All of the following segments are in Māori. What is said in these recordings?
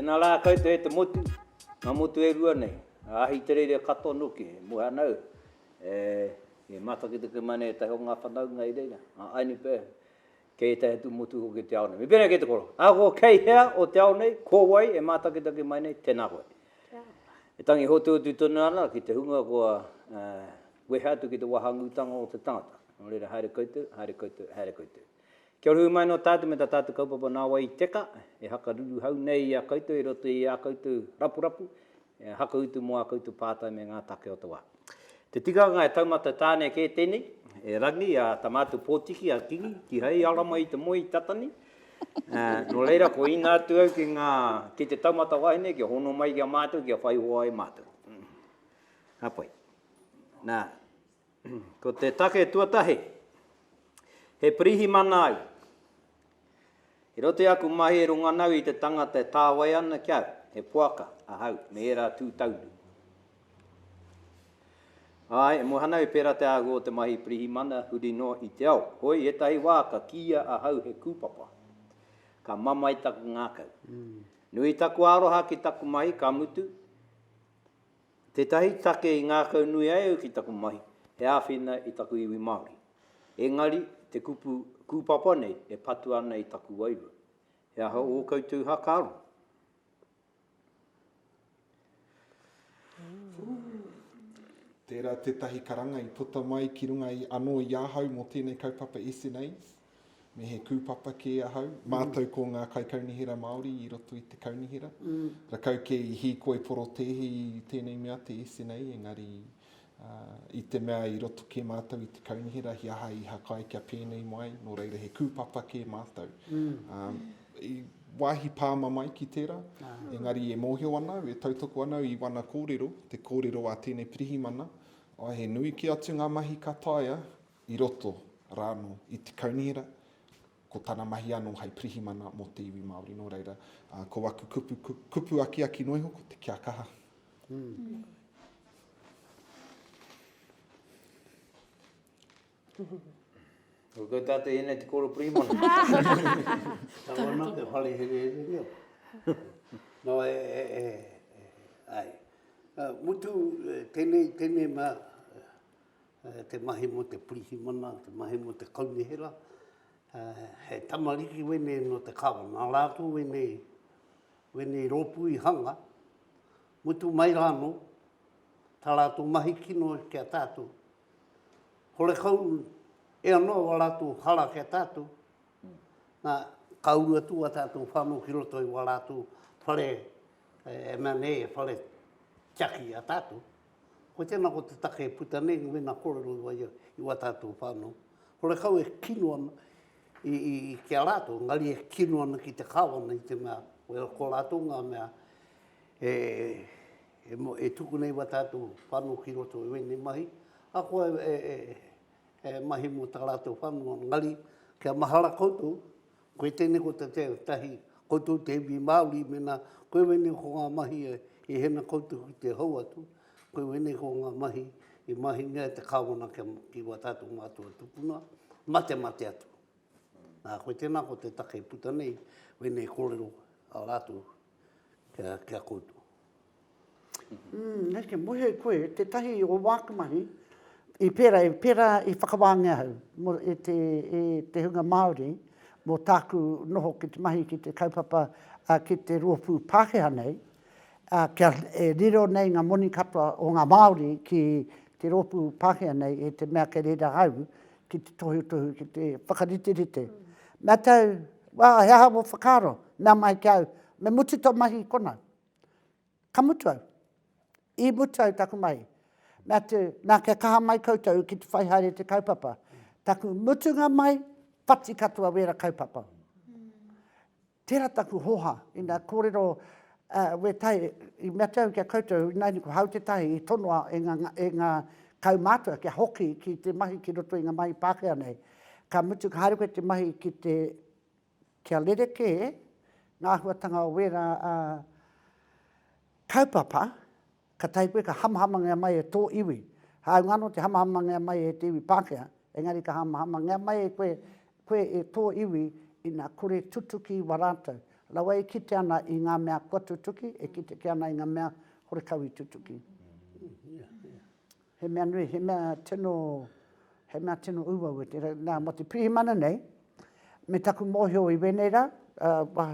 Tēnā rā koutou e te motu, ngā motu e rua nei, a Ahitereiria katoa noke, he muhanau, e, i matakitaki mai nei ētahi o ngā whanaunga i reira, a Ainipea, kei ētahi atu motu hoki o te ao nei. Me pēnei kei te koro, ahakoa kei hea o te ao nei, ko wai e mātakitaki mai nei, tēnā koe. E tangi hotuhotu tonu ana ki te hunga kua wehe atu ki te wahangūtanga o te tangata. Nō reira, haere koutou, haere koutou, haere koutou. Kia ora hui mai nō tātou me tā tātou kaupapa nā wai i teka, e hakaruruhau nei i a koutou i roto i ā koutou rapurapu, E haka utu mō ā koutou pātai me ngā take o te wā. Te tikanga e taumata tāne kē tēnei, e Rangi, a Tamaatu Pōtiki, a Kingi, kihai ara mai i te moe i tata nei. Nō reira, kua ina atu au ki ngā, ki te taumata wahine kia hono mai ki a mātou kia whai hoa ai mātou. Ka pai. Nā. Ko te take tuatahi, he pirihimana ai. I roto i aku mahi e runga ana au i te tangata e tāwai ana ki au, he poaka ahau me ērā tū taunu. Āe, e moe ana au i pērā te āhua o te mahi pirihimana huri noa i te ao. Hoi, ētahi wā ka kīia ahau he kūpapa. Ka mamae taku ngākau. Nui taku aroha ki taku mahi, ka mutu, Tētahi take i ngākaunui ai au ki taku mahi, he āwhina i taku iwi Māori. Engari, te kupu kūpapa nei e patu ana i taku wairua. He aha ō koutou hakaaro? Tērā tētahi karanga i puta mai ki runga i anō i ahau mō tēnei kaupapa SNAs. me he kūpapa kē ahau, mātou ko ngā kaikaunihera Māori i roto i te kaunihera, rakau kē i hīkoi porotēhi i tēnei mea te SNA, engari uh, i te mea i roto kē mātou i te kaunihera, hi aha i hakai kia pēnei mai, nō reira he kūpapa kē mātou. Mm. Um, i wāhi pāma mai ki tērā, ah. engari e mōhio ana au, e tautoko ana au i wana kōrero, te kōrero a tēnei pirihimana, o he nui ki atu ngā mahi ka taia, i roto rā anō i te kaunihera, ko tana mahi anō hei pirihimana mō te iwi Māori. Nō reira, ko aku kupu, kupu akiaki noa iho, ko te kia kaha. Ko koe tātou i ēnei te kōrero pirihimana. Tau ana te whare herehere reo. Nō e, e, e, ai. Mutu, tēnei, tēnei mā, te mahi mo te pirihimana, te mahi mo te kaunihera, he tamariki wenei no te kawa, na ratou wenei, wenei ropu i hanga, mutu mai ra no, ta ratou mahi kino ki a tatou, horekau e ano a ratou hara ki a tatou, na ka uru atu a tatou whano ki roto i a ratou whare, e mea nei, whare tiaki a tatou, Hoi tēnā ko te take e puta nei, mēnā kōrero i waia i wā tātou whānau, horekau e kino ana ki a rātou, engari e kino ana ki te Kāwana i te mea, ko rātou ngā mea e tuku nei wā tātou whānau ki roto i wēnei mahi, ahakoa e mahi mō tā rātou whānau, engari kia mahara koutou, Koe tēnei ko te tahi koutou te iwi Māori mēnā koe wēnei ko ngā mahi i hena koutou ki te hou atu, koe wēnei ko ngā mahi i mahingia e te Kāwana ki wā tātou mātua tupuna, mate mate atu. Nā koe tēnā ko te take i puta nei wēnei kōrero a rātou kia koutou. Mm, neke mohi ai koe, tetahi o waku mahi, i pera, i pera i whakawaangia au, mo e te, e te hunga Maori, mo taku noho ki te mahi ki te kaupapa, a ki te roopu Pakeha nei, a kia e riro nei nga moni katoa o nga Maori ki te roopu Pakeha nei e te mea kei reira au ki te tohutohu ki te whakariterite. Na tau, wa he aha wo whakaaro? Mea mai ki au, me mutu to mahi konau. Ka mutu au. I mutu au taku mahi. Me atu, na kia kaha mai koutou ki te whai haere te kaupapa. Taku mutunga mai, whati katoa wera kaupapa. Tera taku hoha, ina korero we tai, i me atu au kia koutou, inaina ko Hau Te Tahi i tonoa e nga kaumatua kia hoki ki te mahi ki roto i nga mahi Pakea nei. Ka mutu ka haere koe te mahi ki te kia rerekē ngā āhuatanga o wērā kaupapa, ka tahi koe ka hamahamangia mai e tō iwi. Hāunga anō te hamahamangia mai e te iwi Pākehā, engari ka hamahamangia mai e koe, koe e tō iwi ina kore tutuki i wā rātou. Rawa e kite ana i ngā mea kua tutuki, e kite kē ana i ngā mea horekau i tutuki. He mea nui, he mea tino, he mea tino uaua tērā. Nā, mō te pirihimana nei, me taku mōhio i wēnei rā,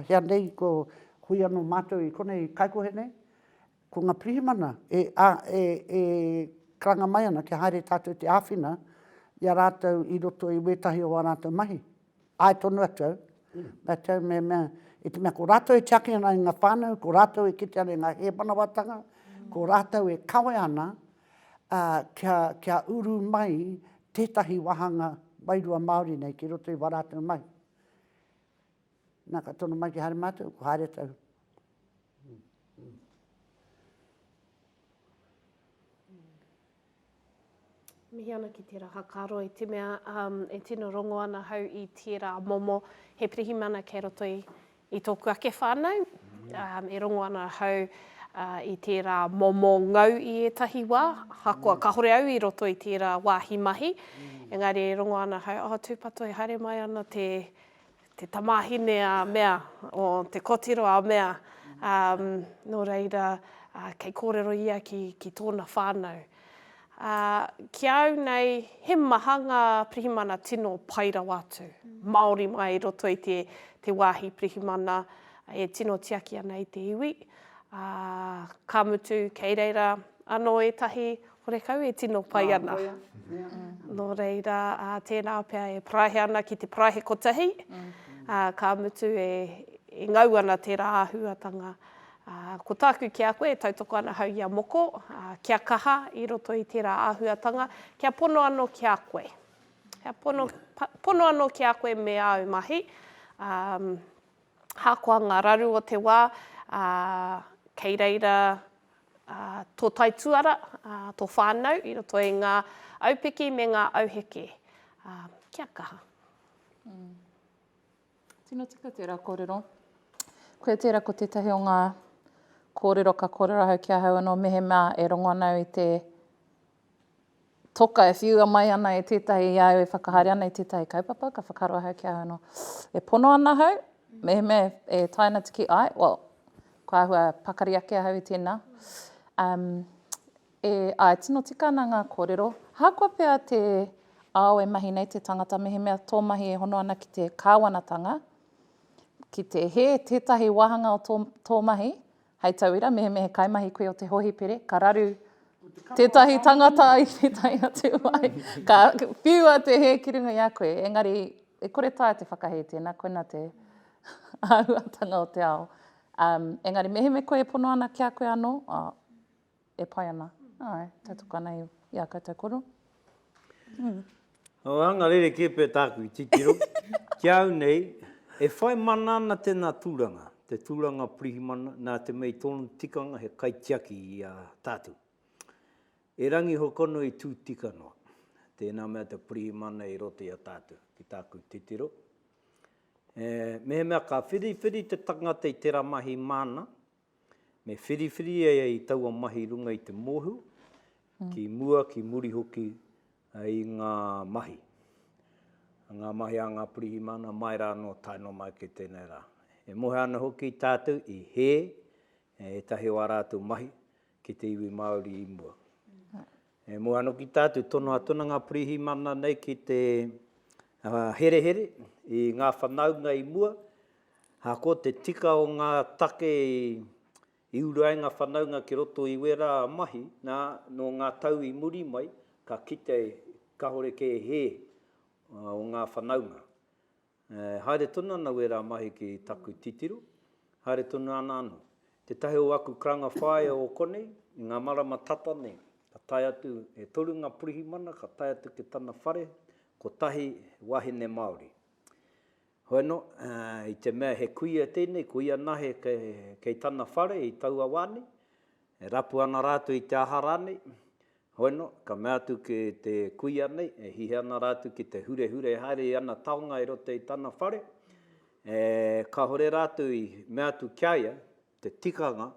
hea nei ko hui anō mātou i konei kaikohe nei, ko ngā pirihimana e, a, e, e karanga mai ana kia haere tātou te āwhina i a rātou i roto i wētahi o ā rātou mahi. Āe tonu atu au, mātou me mea, i te mea ko rātou e tiaki ana i ngā whānau, ko rātou e kite ana i ngā hēmanawatanga, ko rātou e kawe ana kia, kia uru mai tētahi wāhanga wairua Māori nei ki roto i wā rātou mahi. Nā, ka tono mai ki haere mātou, ko haere tau. Mihi ana ki tērā whakaaro i te mea e tino rongo ana hau i tērā momo he pirihimana kei roto i i tōku ake whānau. E rongo ana hau i tērā momo ngau i ētahi wā, ahakoa kāore au i roto i tērā wāhi mahi, engari e rongo ana hau, oh tūpato e haere mai ana te te tamāhine a mea, o te kotiro a mea, ā, nō reira, ā, kei kōrero ia ki, ki tōna whānau. Ā, ki a au nei, he maha ngā pirihimana tino pai rawa atu, māori mai i roto i te, te wāhi pirihimana e tino tiaki ana i te iwi, ā, ka mutu, kei reira anō ētahi Horekau e tino pai ana. Nō reira, tēnā pea e paraihe ana ki te paraihe kotahi, ka mutu e ngau ana tērā āhuatanga. Ko tāku ki a koe e tautoko ana hau i a moko, kia kaha i roto i tērā āhuatanga, kia pono anō ki a koe. Kia pono anō ki a koe me āu mahi. Ahakoa ngā raru o te wā, ā, kei reira, ā, tō taituara, ā, tō whānau i roto i ngā aupiki me ngā auheke. Ā, kia kaha. Tino tika tērā kōrero. Koia tērā ko tētahi o ngā kōrero ka kōrero ahau ki ahau anō mehemea e rongo ana au i te Toka, e whiua mai ana e tētahi i a au e whakahaere ana i tētahi kaupapa, ka whakaaro ahau ki ahau anō, e pono ana ahau, mehemea e tae ana te kī, āe, well, ko āhua pakari ake ahau i tēnā. Um, e, āe, tino tika ana ngā kōrero. Ahakoa pea te ao e mahi nei te tangata, mehemea tō mahi e hono ana ki te kāwanatanga, ki te hē tētahi wāhanga o tō, tō mahi, Hei tauira, mehemea he kaimahi koe o te hohipere, ka raru tētahi tangata i tētahi atu wai, ka whiua te hē ki runga i a koe, engari e kore taea te whakahē tēnā, koinā te āhuatanga o te ao. Um, engari mehemea koe e pono ana ki a koe anō, oh, e pai ana, āe, tautoko ana i, i ā koutou koro. O, anga rerekē pea tāku i titiro. Ki a au nei, e whai mana ana tēnā tūranga, te tūranga pirihimana, nā te mea i tōna tikanga he kaitiaki i a tātou. E Rangi Hokonui i tū tika noa, tēnā mea te pirihimana i roto i a tātou, ki tāku titiro. E, mehemea ka whiriwhiri te tangata i tērā mahi māna, Me whiriwhiri e i taua mahi runga i te mohu, ki mua, ki muri hoki i ngā mahi. Ngā mahi a ngā pirihimana mai rā anō tae noa mai ki tēnei rā. E mohe ana hoki tātou i hē ētahi o ā rātou mahi ki te iwi Māori i mua. E mua anō ki tā te tono a Tuna Ngā Pirihimana nei ki te herehere i ngā whanaunga i mua, ā, ko te tika o ngā take i uru ai ngā whanaunga ki roto i wērā mahi, nā, nō ngā tau i muri mai, ka kite kāore kē hē o ngā whanaunga. Haere tonu ana wērā mahi ki taku titiro, haere tonu ana anō. Tētahi o aku karanga whāea o konei, i ngā marama tata nei, ka tae atu, e toru ngā pirihimana ka tae atu ki tana whare, kotahi he wāhine Māori. Hoeno, i te mea he kuia tēnei, ko ia nahe kei tana whare i taua wā nei, e rapu ana rātou i te aha rānei, Hoena, ka mea atu ki te kuia nei, e hihe ana rātou ki te hurehure haere i ana taonga i roto i tana whare, ē, kāore rātou i mea atu ki a ia te tikanga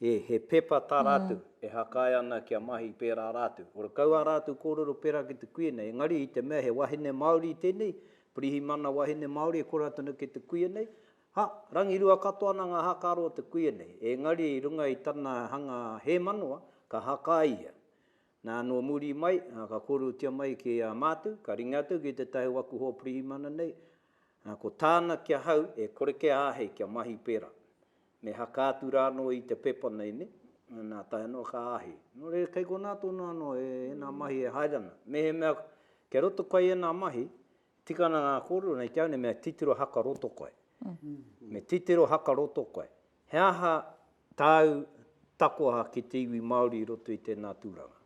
he, he pepa tā rātou e hakae ana kia mahi pērā rātou. Ora kau ā rātou kōrero pērā ki te kuia nei, engari i te mea he wahine Māori tēnei, pirihimana wahine Māori e kora tonu ki te kuia nei, Ha, rangirua katoa ana ngā hākaro o te kuia nei, ēngari i runga i tana hanga hēmanoa, ka haka ia. Nā, nō muri mai, ka kōrerotia mai ki a mātou, ka ringa atu ki tētahi o aku hoa pirihimana nei, ko tāna ki ahau e kore kia āhei kia mahi pērā. Me haka atu rānō i te pepa nei, nē? Nā, tae noa ka āhei. Nō reira, kei konā tonu anō ēnā mahi e haere ana. Mehemea kei roto koe i ēnā mahi, Tika ana ngā kōrero nei ki au nei me titiro haka roto koe. Me titiro haka roto koe. He aha tāu takoha ki te iwi Māori i roto i tēnā tūranga?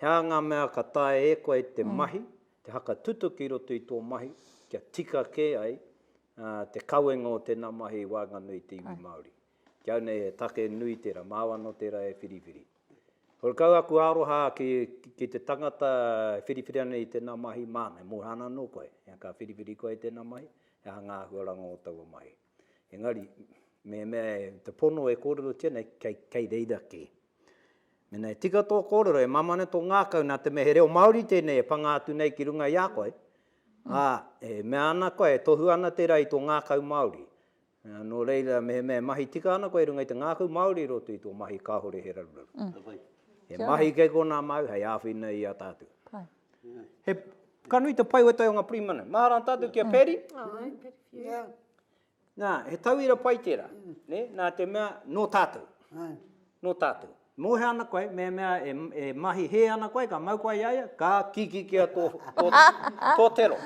He aha ngā mea ka taea e koe te mahi, te haka tutuki i roto i tō mahi kia tika kē ai te kawenga o tēnā mahi i waenganui i te iwi Māori? Ki au nei he take nui tērā, māu anō tērā e whiriwhiri. Ko kau aku aroha ki te tangata e whiriwhiri ana i tēnā mahi māna, e moe ana anō koe, ka whiriwhiri koe i tēnā mahi, he aha ngā āhuaranga o taua mahi. Engari, mehemea te pono e kōrerotia nei, kei reira kē. Mēnā e tika tō kōrero, e māmā ana tō ngākau nā te mea he reo Māori tēnei e pangā atu nei ki runga i a koe, ā, e mea ana koe, e tohu ana tērā i tō ngākau Māori, Nō reira, mehemea e mahi tika ana koe i runga i te ngākau Māori i roto i tō mahi kāore he raruraru. He mahi kei konā māu hei āwhina i a tātou. He, ka nui te pai o ētahi o ngā pirihimana. Mahara ana tātou ki a Paddy. Nā, he tauira pai tērā. Nē, nā te mea, nō tātou. Nō tātou. Mōhio ana koe, mehemea e mahi hē ana koe, ka mau koe i a ia, ka kikikia tō tero.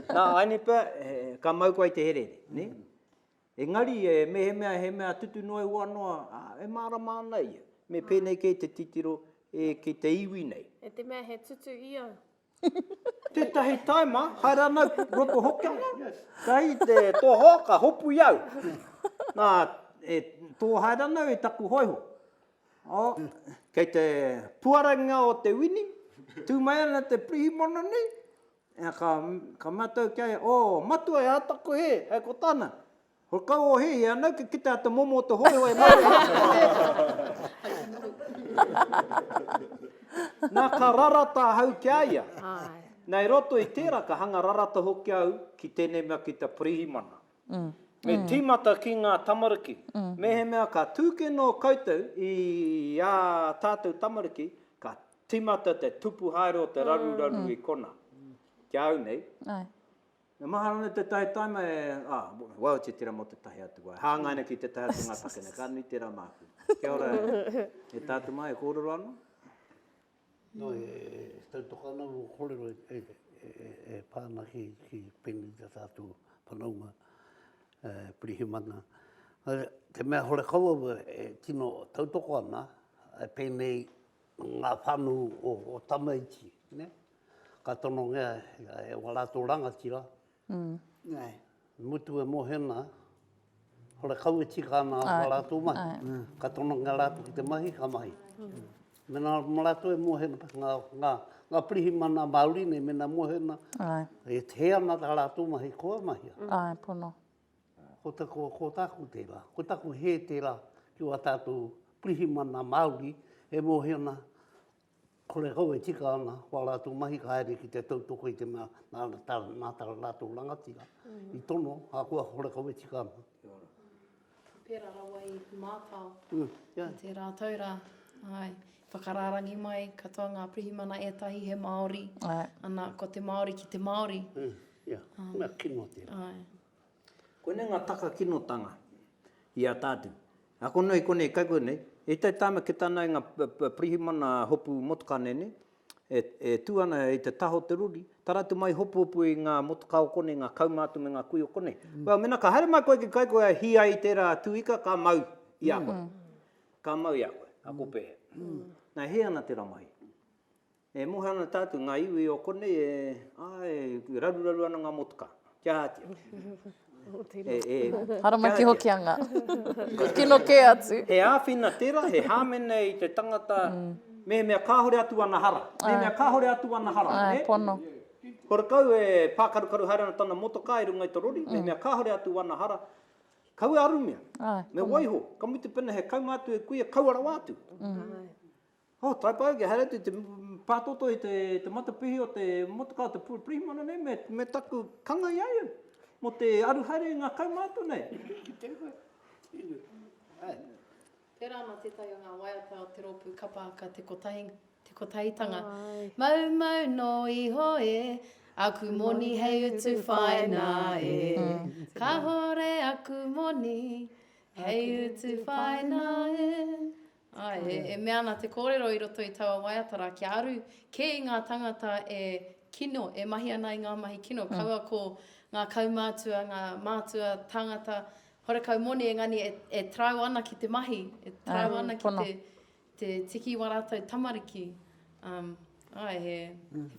Nā, āinei pea, ka mau koe i te herehere, nē? Engari, mehemea he mea tutu noa ihoa noa, ā, e mārama ana ia. Me pēnei kē te titiro ki te iwi nei. E te mea he tutu i au. Tetahi taima, hai ranau roto hoki ana, kai te toho ka hopu i au. Na, e too hai ranau i taku hoiho. Oh, kei te puarangia o te wini, tu mai ana te pirihimana nei, ka, ka matau kia, oh, matua e ataku he, hai ko tana. Ho kau o he ia nau ke kita te momo o te hoehoe ma te Na ka rarata ahau ki a ia. Na i roto i tera ka hanga rarata hoki au ki tenei mea ki te Pirihimana. Me timata ki nga tamariki. Mehemea ka tu ke no koutou i a tatou tamariki ka timata te tupu haere o te raruraru i kona. Ki a au nei. E maha ana tētahi taima e, ah, wau te tira mō tētahi atu wā, e hāngai ana ki tētahi atu ngā take nei, ka nui tērā māku. Kia ora e tātou mā, e kōrero ana? Nō, e tautoko ana mō kōrero e pā ana ki pēnei tā tātou whanaunga pirihimana. Te mea hore kau au e tino tautoko ana, pēnei ngā whānau o tamaiti, nē? ka tonongea e wā rātou rangatira, i mutu e mohena, hore kau e tika ana wā rātou mahi, ka tonongea rātou ki te mahi, ka mahi. Mēnā mō rātou e mohena, ngā pirihimana Māori nei, mēnā mohena, e hē ana tā rātou mahi, kua mahia. Āe, pono. Ko taku, ko tāku tērā, ko taku hē tērā ki wā tātou pirihimana Māori e mohena Kore kau e tika ana, ko a rātou mahi ka haere ki te tautoko i te mea nā, tā, nā tā rātou rangatira i tono, ahakoa kore kau e tika ana. Kia ora. Pērā rawa i mātao i tērā tau rā. Āe, whakarārangi mai katoa ngā pirihimana ētahi he Māori, ana, ko te Māori ki te Māori. Ia, mea kino tērā. Āe. Koinei ngā taka kinotanga i a tātou. Ako noa i konei i kaikua nei, i te taima ki tāna i ngā pirihimana hopu motokāne nei, e tū ana i te taha o te rori, tara atu mai hopuhopu i ngā motokā o konei, ngā kauma atu me ngā kui o konei. Well, mēnā ka haere mai koe ki kaikua e hī ai i tērā tū ika, ka mau i a koe. Ka mau i a koe, ako pēhea. Nā, e hē ana tērā mahi. E moe ana tātou, ngā iwi o konei e, āe, e raruraru ana ngā motuka. Kia ātia. E, e. Haramaki Hokianga. Kino kē atu. He āwhina tērā, he hāmene i te tangata, mehemea kāore atu ana hara. Mehemea kāore atu ana hara, nē? Āe, pono. Ko Rakau e pākarukaru haere ana tana motokā i runga i te rori, mehemea kāore atu ana hara, kaua e arumia. Āe, pono. Me waiho, ka mutu pēnā he kaunga atu e kuia, kaua rawa atu. Āe. Oh, taipai ake, haere atu te pātoto i te matapihi o te motokā, te pirihimana nei, me taku kanga i a ia, mō te aru haere i ngā kaumātua nei. Tēnā koe. Tērā ana tētahi o ngā waiata o te rōpū kapa haka Te Kotahi, Te Kotahitanga. Mau mau nō iho e, aku moni hei utu whaina e. Kahore aku moni hei utu whaina e. Āe, e mea ana te kōrero i roto i taua waiata rā, kia aru kē i ngā tāngata e kino, e mahi ana i ngā mahi kino, kaua ko ngā kaumātua, ngā mātua tāngata horekau moni engani e tarau ana ki te mahi, e tarau ana ki te tiki i wā rātou tamariki. Āe, he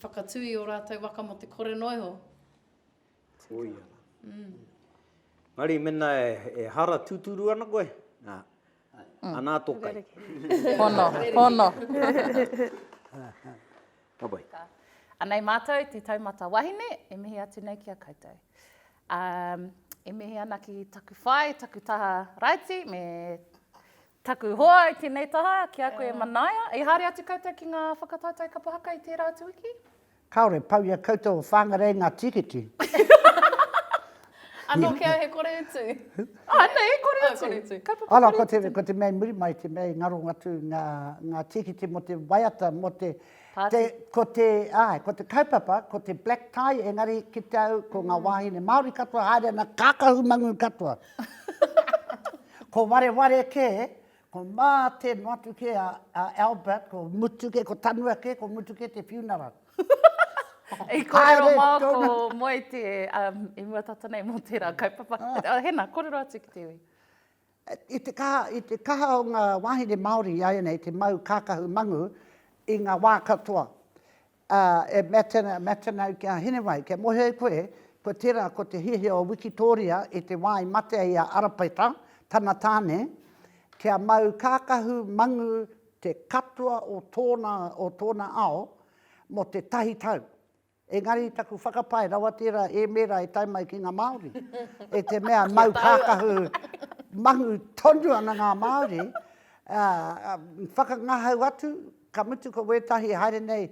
whakatū i ō rātou waka mō te kore noa iho. Koia rā. Engari mēnā e hara tūturu ana koe, Anā tō kai. Hono, hono. Ka pai. Anei mātou te taumata wahine, e mihi atu nei ki a koutou. Um, e mihi ana ki taku whai, taku taha raiti, me taku hoa i tēnei taha, ki a koe e Manaia. I haere atu koutou ki ngā whakataetae kapa haka i tērā atu wiki? Kāore pau i a koutou o Whāngarei ngā tīkiti. Anō kē au he kore utu. Anei, he kore utu. Kore utu. Kaupapa kore utu. Ana, ko, ko te mea i muri mai, te mea i ngaro atu ngā, ngā tīkiti mō te waiata, mō te, te, ko te, āe, ko te kaupapa, ko te black tie, engari ki te au, ko ngā wāhine Māori katoa haere ana, kākahu mangū katoa. ko wareware kē, Ko mā te motu ke a, a Albert, ko mutu ke, ko tanu ake, ko mutu ke te funeral. I kōrero mā ko Moe te, um, i mua tata nei mō tērā kaupapa. Oh. Hena, kōrero atu ki te iwi. I te kaha, i te kaha o ngā wāhine Māori, i aia nei te mau kākahu mangu, i ngā wā katoa. Ā, e Mattino, Mattino ki a Hinewai, kei mōhio e koe, kua tērā, ko te hiahia o Wikitōria i te wā i matea i a Arapaeta, tana tāne, kia mau kākahu mangu te katoa o tōna, o tōna ao, mō te tahi tau. Engari taku whakapae, rawa tērā ēmēra e tae mai ki ngā Māori, e te mea mau kākahu mangu tonu ana ngā Māori, ā, whakangahau atu, Ka mutu ko wētahi e haere nei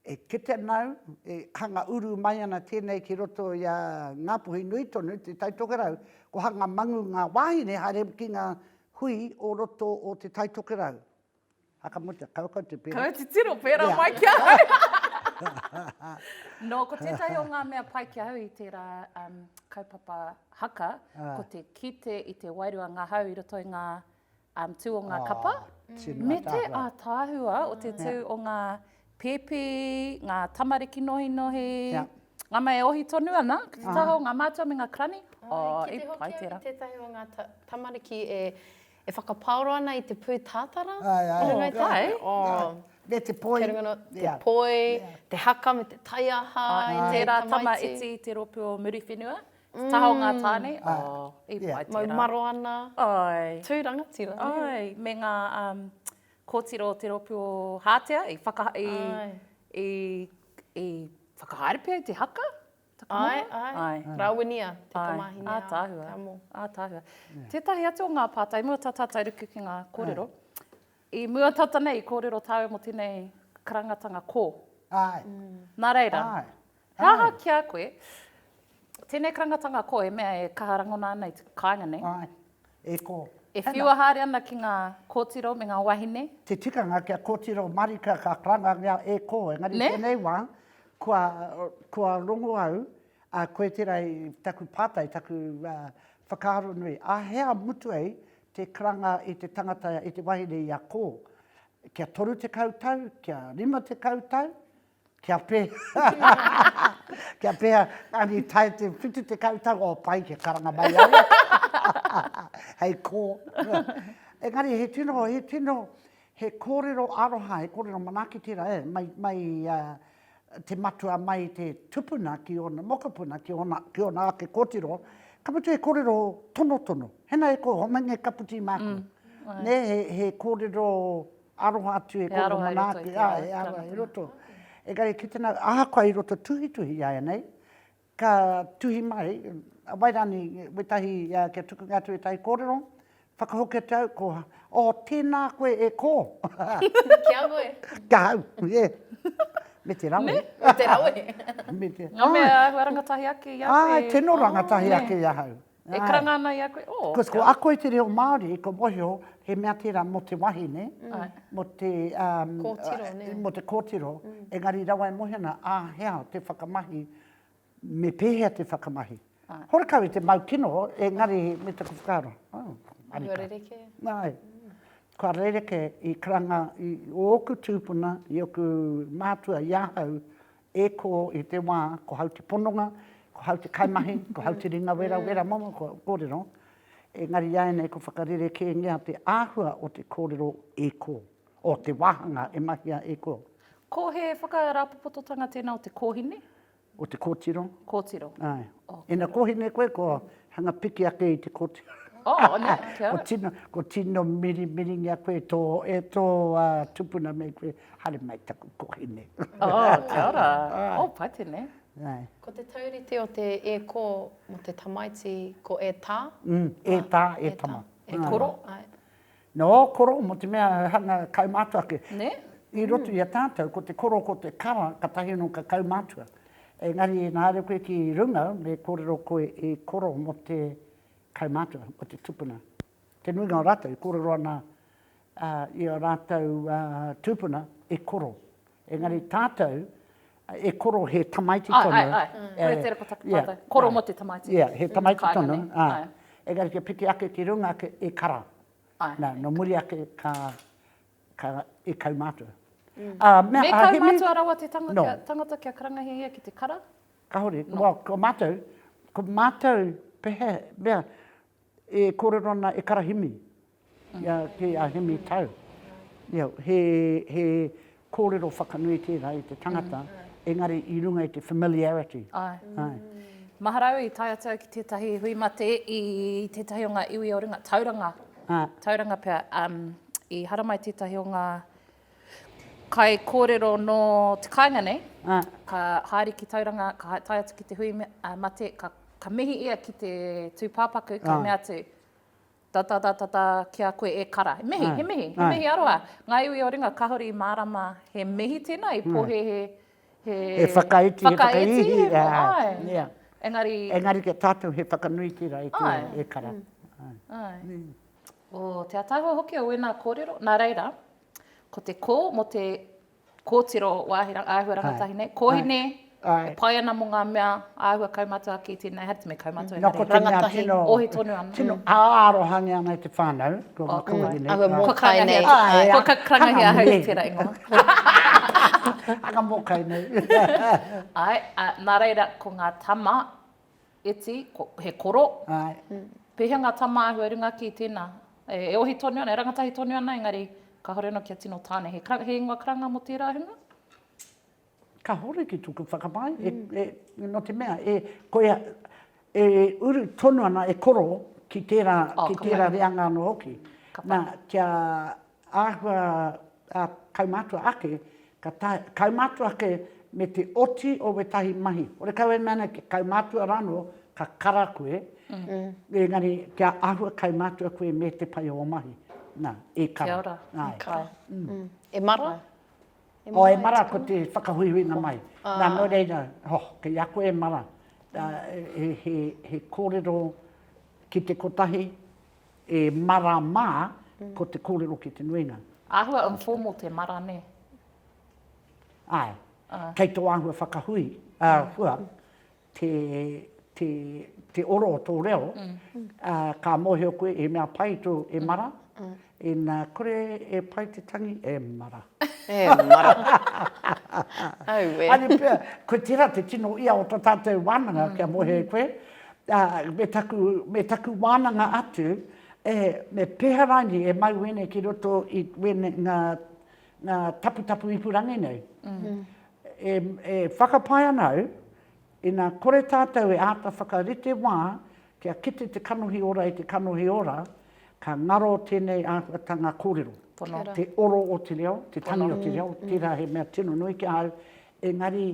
e kitea nāu, e hanga uru mai ana tēnei ki roto i a Ngāpuhi nui tonu, Te Tai Tokerau, ko hanga mangu ngā wāhine haere ki ngā hui o roto o Te Tai Tokerau. A ka mutu, kau kau te pērā. Kau te tiro pērā mai ki ahau. Nō, ko tētahi o ngā mea pai ki ahau i tērā kaupapa haka, ko te kite i te wairua ngahau i roto i ngā um, tū o ngā kapa, oh, me te ātaahua o te tū yeah. o ngā pēpi, ngā tamariki nohinohi, yeah. ngā mai e ohi tonu ana, ki te taha o ngā mātua me ngā krani. Oh, oh, e pai tērā. Ki te hoki o ngā tamariki e, e whakapaoro ana i te pū tātara. Ai, ai. Oh, ai. Oh. Me te poi. Te, no, te yeah. poi, yeah. te haka me te taiaha. Oh, yeah. Tērā tama iti te ropu o Muriwhenua. Taha o ngā tāne. Mau maro ana. Tū rangatira. Me ngā kōtiro o te rōpū o Hātea i whakahaere pea i te haka? Rāwinia te tamāhine a Ātaahua. Ātaahua. Tētahi atu o ngā pātai, i mua tā tātou ruku ki ngā kōrero, i mua tata nei i kōrero tāua mō tēnei karangatanga kō. Nā reira, He aha ki a koe, tēnei karangatanga koa e mea e kaha rangona ana i te kāinga nei? Āe, e kō. E whiua haere ana ki ngā kōtiro me ngā wāhine? Te tikanga kia kōtiro marika ka karangangia e kō, engari tēnei wā, kua, kua rongo au, ā, koe tērā i taku pātai, taku whakaaro nui, ā hea mutu ai te karanga i te tangata, i te wahine i a kō? Kia 30 tau, kia 50 tau? Kia Kia pēhea, engari i tae te whitu tekau tau, oh pai kia karanga mai au. Hei kō. Engari he tino, he tino, he kōrero aroha, he kōrero manaaki tērā e, mai, mai a, te matua mai te tupuna ki ōna mokopuna, ki ōna, ki ōna ake kōtiro, ka mutu he kōrero tonotono. Hena e kō, homeinga e kaputī māku. Mm. Nē, he, he kōrero Aroha atu e koro manaaki, he aroha i roto. Engari ki tena, ahakoa i roto tuhituhi i aenei, ka tuhi mai, wai rani, wetahi, kia tukunga atu wetahi korero, whakahokia te au, ko, oh, tena koe e ko. Ki a koe? Ki a au, yeah. Me te rawe. Me? Me te rawe. Me te, ai. Nga mea āhua rangatahi ake i a koe? Ai, tino rangatahi ake i ahau. E karanga ana i a koe, oh. Because ko ako i te reo Māori, ko mohio, he mea tērā mō te wahine, mō te, um, mō te kōtiro, engari rawa e mohio ana, ā, he aha te whakamahi, me pēhea te whakamahi. Horekau i te mau kino, engari me taku whakaaro, oh, arika. Kua rereke. Nāi. Kua rereke i karanga i ōku tūpuna, i ōku mātua, i ahau, E ko i te wā, ko hau te pononga, ko hau te kaimahi, ko hau te ringa wera wera momo kua kōrero, engari iāianei kua whakarerekēngia te āhua o te kōrero e ko, o te wāhanga e mahia e ko. Ko he whakarāpopototanga tēnā o te kōhine? O te kōtiro. Kōtiro. Āe. Ok. Ina kōhine koe, kua hanga piki ake i te kōtiro. Oh, nē, kia ora. Kua tino mirimiringia koe e tō, e tō tupuna me koe. Haere mai taku kohine. Oh, kia ora. Oh, pai tēnei. Nei. Ko te taurite o te e ko mo te tamaiti ko e ta. Mm, e ta, e tama. E koro. No, koro mo te mea hanga kaumātua ake. Ne? I roto i a tātou, ko te koro, ko te kara, ka tahi anō ka kaumātua. Engari, nā re koe ki runga, me kōrero koe e koro mo te kaumātua, mo te tupuna. Te nuinga o rātou i kōrero ana i ō rātou tūpuna e koro. Engari tātou e koro he tamaiti tonu. Ai, ai, ai. Koia te reo ko taku pātai. Koro mō te tamaiti. Ia, he tamaiti tonu. Engari kia piki ake ki runga ake e kara. Nā, nō muri ake ka, ka, e kaumātua. Me kaumātua rawa te tangata kia karangahia ia ki te kara? Kāore. Ko mātou, ko mātou, pehea, mea, E kōrero ana e Karahimi, ia kē a Hemi Tau. Ia, he, he kōrero whakanui tērā i te tangata, engari i runga i te familiarity. Ae. Ae. Mahara au i tae atu au ki tētahi hui mate i tētahi o ngā iwi o runga, Tauranga. Ae. Tauranga pea, um, i haramai tētahi o ngā. Kai kōrero nō te kāinga nei, ka haere ki Tauranga, ka tae atu ki te hui mate, ka mihi ia ki te tūpāpaku, ka mea atu, Tatatatatā ki a koe e kara. He mihi, he mihi, he mihi aroha. Ngā iwi o ringa kāore i mārama he mihi tēnā, i pōhēhē he whakaiti, he whakaihi, āe. Engari. Engari ki a tātou he whakanuitira e kara. Āe. o te ataahua hoki o wēnā kōrero, nā reira, ko te kō mō te kōtiro wāhi āhua rangatahi nei, kōhine, e pai ana mō ngā mea āhua kaumatua ki tēnei, haere me kaumatua engari, rangatahi, ohi tonu ana. Tino ārohangia ana i te whānau, ko ngā kōhine. Ahua mōkai nei. Ko ka karangahia ahau i tērā ingoa. Aka mōkai nei. Ai, nā reira, ko ngā tama, Iti, ko, he koro. Ae. Pehea nga tamaahua runga ki tena? E ohi tonu ana, e rangatahi tonu ana engari kahore ano kia tino tane. He kra, he ingoa karanga mo tera hunga? Kahore ki toku whakapae, e, e, no te mea, e, koia, e uru tonu ana, e koro ki tera, ki tera reanga ano hoki. Na, kia, Āhua ā-kaumātua ake, ka taea e kaumātua ake me te oti o wētahi mahi. Hore kau e mea nei kia kaumātua rānō ka kara koe, engari kia āhua kaumātua koe me te pai o ō mahi. Nā, e kara. Kia ora, e kara. E mara? Oh, e mara, ko te whakahuihuinga mai. Nā, nō reira, oh, kei a koe e mara, he kōrero ki te kotahi, E mara ma, ko te korero ki te nuinga. Ahua informal te mara ne? Ae. Kei to ahua whakahui, ahua, te, te, te oro o to reo, ka mohio koe e mea pai to e mara, ina kore e pai te tangi, e mara. E mara. Aue. Are pea, ko tera te tino ia o to tatou wananga kia mohio e koe, ā, me taku, me taku wānanga atu, e, me pēhea rānei e mau wēnei ki roto i wēnei, ngā, ngā taputapu ipurangi nei. E, e whakapae ana au, ina kore tātou e āta whakarite wā kia kite te kanohi ora i te kanohi ora, ka ngaro tēnei āhuatanga kōrero. Pono. Te oro o te reo, te tangi o te reo, tērā he mea tino nui ki ahau, engari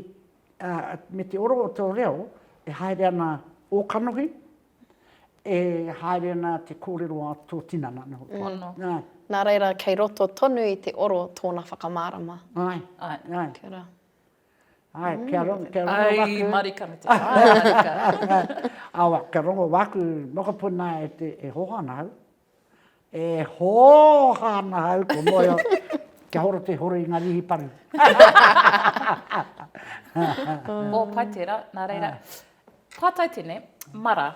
ā, me te oro o tō reo, e haere ana ō kanohi, e haere ana te kōrero a tō tinana, nō hoki. Pono. Ā. Nā reira, kei roto tonu i te oro tōna whakamārama. Āe. Āe. Āe. Kia ora. Āe, kia rongo, kia rongo waku. Ai, marika me te wā, marika. Awa, kia rongo waku mokopuna e te, e hoho ana au. E hooha ana au ko moe kia horo te horo i nga rihi paru. O pai tera, na reira. Patai tene, mara.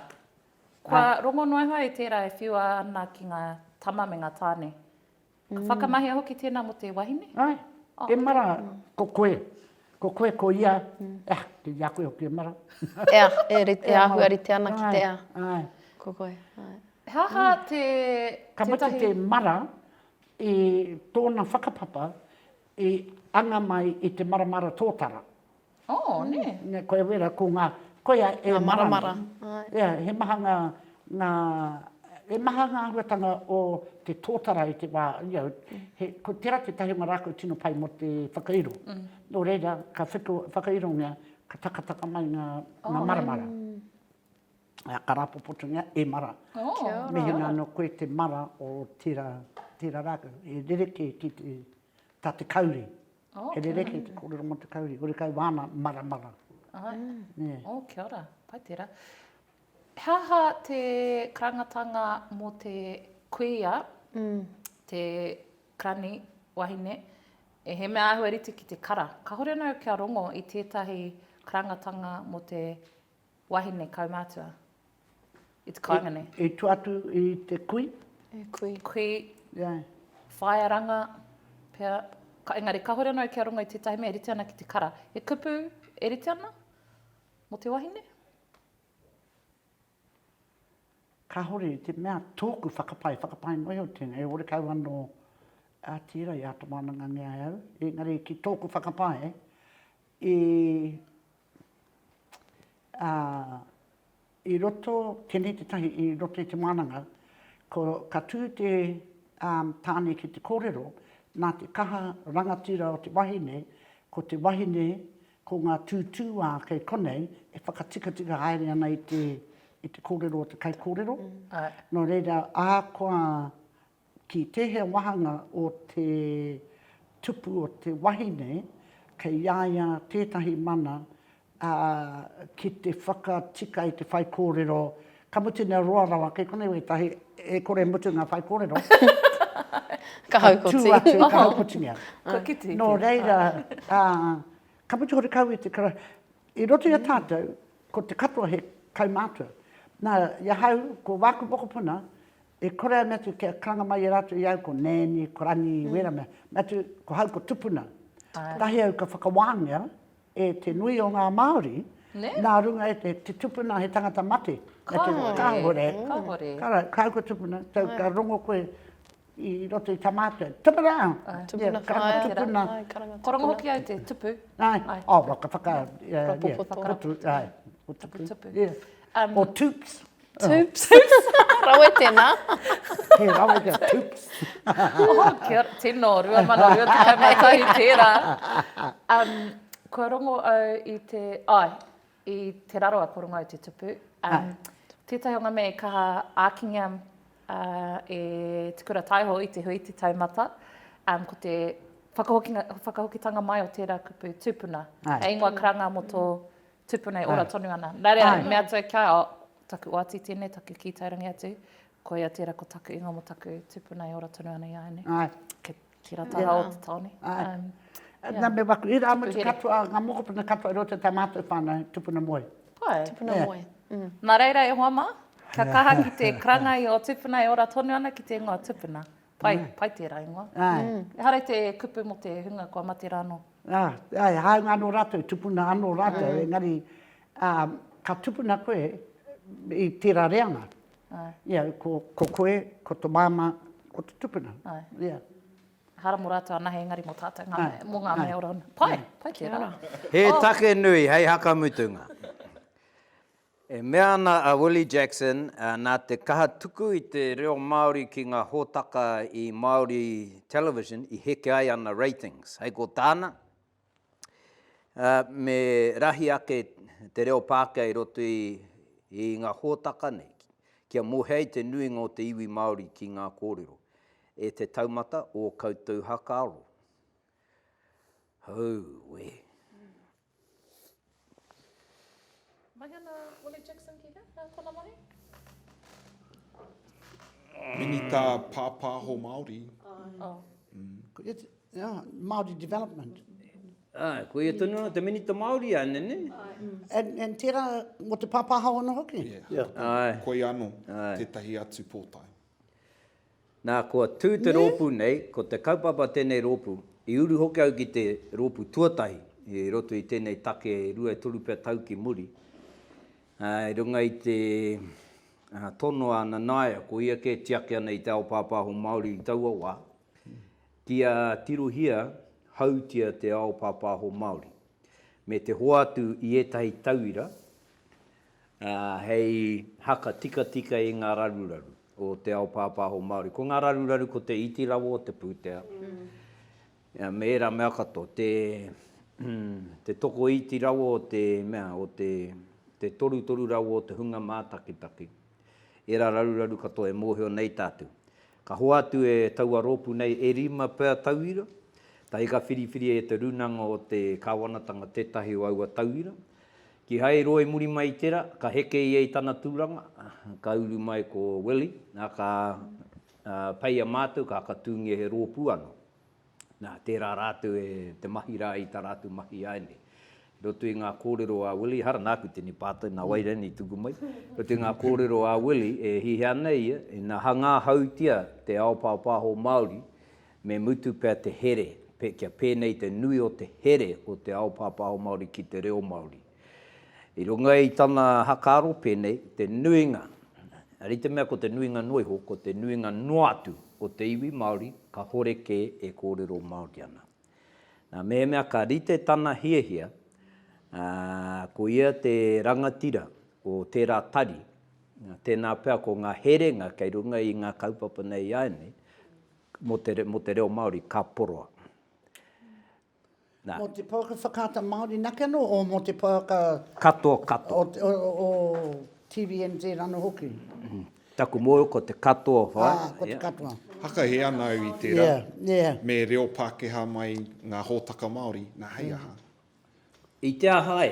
Kua rongo noa iho ai tera e whiua ana ki nga tama me nga tane. Ka whakamahia hoki tēnā mō te wahine? Āe, e mara, ko koe, ko koe, ko ia, ea, kei a koe hoki e mara. Ea, e rite, e āhua rite ana ki te ea. Āe. Ko koe, āe. He aha te, tētahi? Ka mutu te mara i tōna whakapapa i anga mai i te maramara tōtara. Oh, nē. Nē, koia wera, ko ngā, koia e maramara. Ia, he maha ngā, ngā, he maha ngā āhuatanga o te tōtara i te wā, you know, he, ko tērā tētahi o ngā rā kua tino pai mō te whakairo. Nō reira, ka whiko, whakairongia, ka takataka mai ngā, ngā maramara. Ā, ka rāpopotongia, e mara. Kia ora. Mehemea anō koe te mara o tērā, tērā rākau, e rerekē ki te, tā te kauri. He rerekē te kōrero mō te kauri, horekau wāna maramara. Āe, ō, kia ora, pai tērā. He aha te karangatanga mō te kuia, te karani, wahine, he mea āhua rite ki te kara? Kāore anō kia rongo i tētahi karangatanga mō te Wahine kaumātua. It's Kaingane. I, i tua atu i te kui? E kui. Kui. Yeah. Whaearanga, pea. Ka, engari, kahore anō kia rongo i tētahi mea e rite ana ki te kara. He kupu e rite ana mo te wahine? Kahore i te mea tōku whakapae, whakapae noa iho tēnei, e ore kau anō a tira i ata wānanga nge ai au. Engari ki tōku whakapae, i a i roto tenei te tahi i roto i te wananga ko ka tu te a tane ki te korero na te kaha rangatira o te wahine ko te wahine ko nga tu tu a kei konei e whakatikatika haere ana i te i te korero o te kai korero no reira ahakoa Ki tēhea wāhanga o te tupu o te wahine, kei a ia tētahi mana, ā, ki te whakatika i te whaikōrero, ka mutu nei roa rawa, kei konei wētahi, e kore e mutu ngā whaikōrero, ka tū atu, ka haukotingia. Nō reira, ā, ka mutu hoki kau i te kara, i roto i a tātou, ko te katoa he kaumātua. Nā, i ahau, ko wāku mokopuna, E kore ana atu kia karanga mai e ratou i au ko Nanny, ko Rangi, wera mea, me atu ko hau ko tupuna. Kotahi au ka whakawāngia e te nui o ngā Māori nā runga e te, te tupuna he tangata mate. Kahore, kahore, ko hau ko tupuna, tau ka rongo koe i roto i ta matou, tupuna! Tupuna whaea, tupuna, ko rongo hoki au te tupu. Ai, oh, ka whaka, yeah, yeah, tupu, tupu, tupu, yeah, or tupes. Toops. Toops. Rawe tēnā. He rawe kia toops. Oh, kia ora. Tino, 2021 tērā. Um, kua rongo au i te... Ai, oh, i te raro a Porongau te tupu. Um, tētahi o ngā mea i kaha ākingia uh, e Te Kura Taiho i te hui te taumata, um, ko te whakahokitanga mai o tērā kupu tūpuna. Ai. E ingoa karanga mō tō Tupuna e ora tonu ana. Nā reira, me atu au kia, oh, taku oati tēnei, taku kī taurangi atu, koia tērā ko taku ingoa mō taku tupuna e ora tonu ana i a au nei. Ai. Ke, ki rā taha yeah. o te tāone. Ai. Um, yeah. Nā me waku, i rā mutu katoa, ngā mokopuna katoa roto tā mātou whānau, tupuna moe. Pai. Tupuna yeah. moe. Mm. Nā reira e hoa mā, kia kaha ki te karangai o tupuna e ora tonu ana ki te ingoa tupuna. Pai, pai tērā ingoa. Ehara i te kupu mō te hunga kua mate rā anō. Āe, e hāunga anō rātou, tupuna anō rātou, engari ka tupuna koe i tērā reanga. Ia, ko koe, ko tō māmā, ko te tupuna. Ia. Ehara mō rātou anahe, engari mō tātou ngā mea, mō ngā mea ora. Pai, pai tērā. He take nui hei hakamutunga. E mea ana a Willie Jackson, nā te kaha tuku i te reo Māori ki ngā hōtaka i Māori television i heke ai ana ratings. Hei ko tāna, me rahi ake te reo Pākehā i roto i ngā hōtaka nei, kia mōhio ai te nuinga o te iwi Māori ki ngā kōrero. E te taumata, ō koutou hakaaro. Hou wē. Mai ana Willie Jackson ki hea? Hea tana mahi? Minita Pāpāho Māori. Māori Development. Āe, ko ia tonu anō te Minita Māori a Nene. And tērā mō te pāpāho anō hoki? Āe. Koia anō tētahi atu pōtae. Nā, kua tū te rōpū nei, ko te kaupapa tēnei rōpū, i uru hoki au ki te rōpū tuatahi i roto i tēnei take rua e toru pea tau ki muri, ā, i runga i te tono a Nanaia, ko ia kē e tiaki ana i te ao pāpāho Māori i taua wā, kia tirohia hautia te ao pāpāho Māori, me te hoatu i ētahi tauira, ā, hei haka tikatika i ngā raruraru o te ao pāpāho Māori. Ko ngā raruraru ko te iti rawa o te pūtea, me ērā mea katoa, te te tokoiti rawa o te mea, o te te torutoru rawa o te hunga mātakitaki. Ērā raruraru katoa e mōhio nei tātou. Ka hoatu e taua rōpū nei e rima pea tauira, tahi ka whiriwhiria e te Rūnanga o te Kāwanatanga tētahi o aua tauira, Kihai roa i muri mai i tera, ka heke ia i tana turanga, ka uru mai ko Willie, na ka peia matou, ka whakatungia he ropu ano. Na, tera ratou e te mahi ra i ta ratou mahi ianei. I roto i nga korero a Willie, ehara naku tini patai, na wai rainei i tuku mai, i roto i nga korero a Willie, e hiha ana ia, ina hanga hautia te ao paopaoho Maori, Me mutu pea te here, pe, kia pēnei te nui o te here o te ao pāpāho Māori ki te reo Māori. I runga i tana hakaaro pēnei, te nuinga, ari te mea ko te nuinga noa iho, ko te nuinga noa atu o te iwi Māori kahore kē e kōrero Māori ana. Nā mehemea ka rite tana hiahia, ā, ko ia te rangatira o tērā tari, tēnā pea ko ngā herenga kei runga i ngā kaupapa nei āianei, Mō te, mō te reo Māori, ka poroa. Nā. Mō te pouaka whakaata Māori nake anō, o mō te pouaka. Katoa, katoa. O te, o, o, o TVNZ anō hoki. Mm. Taku mōhio ko te katoa whai. Ah, ko te katoa. Hakahi ana au i tērā. Yeah, yeah. Me reo Pākehā mai ngā hōtaka Māori, nā hei aha. I te aha ai?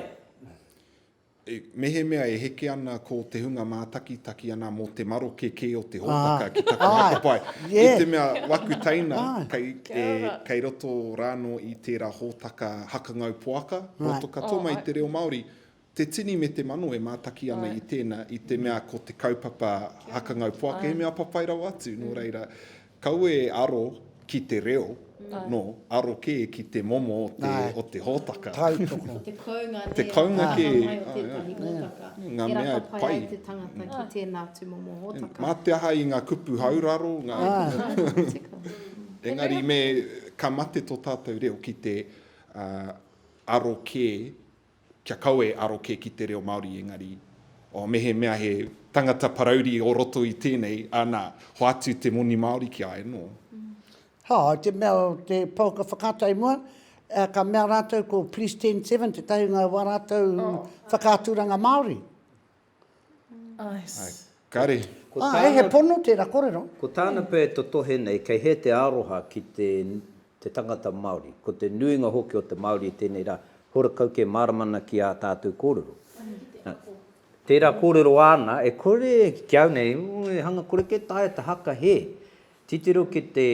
Mehemea e heke ana ko te hunga mātakitaki ana mō te maroke kē o te hōtaka ki taku hakapae, i te mea waku teina kei roto rānō i tērā hōtaka hakangau poaka, roto katoa mai i te reo Māori, te tini me te mano e mātaki ana i tēnā, i te mea ko te kaupapa hakangau poaka he mea papai rawa atu, nō reira, Kaua e aro ki te reo, no, aro kē ki te momo o te, o te hōtaka. Tautoko. Te kounga, nē, Te kounga o te kē. whakamai o tētahi hōtaka. Ngā E mea e rata pai pai. ai te tangata ki tēnā tūmomo hōtaka. Mā te aha i ngā kupu hauraro, ngā, Nā, nā, tika. engari me, ka mate tō tātou reo ki te, ā, aro kē Kia kawe e aro kē ki te reo Māori engari, oh, mehemea he tangata parauri o roto i tēnei, anā, hoatu te moni Māori ki a e nō. Ha, i te mea o te pouaka whakaata i mua, ka mea rātou ko Please 10 7 tētahi o ngā wā rātou whakaaturanga Māori. Kare. Ah, e, he pono tera korero. Ko tāna pea e totohe nei, kei hea te aroha ki te te tangata Māori. Ko te nuinga hoki o te Māori i tēnei rā, hora kau kē mārama ana ki ā tātou kōrero. Tērā kōrero āna, e kore, ki au nei, hanga kore kē taea te haka hē. Titiro ki te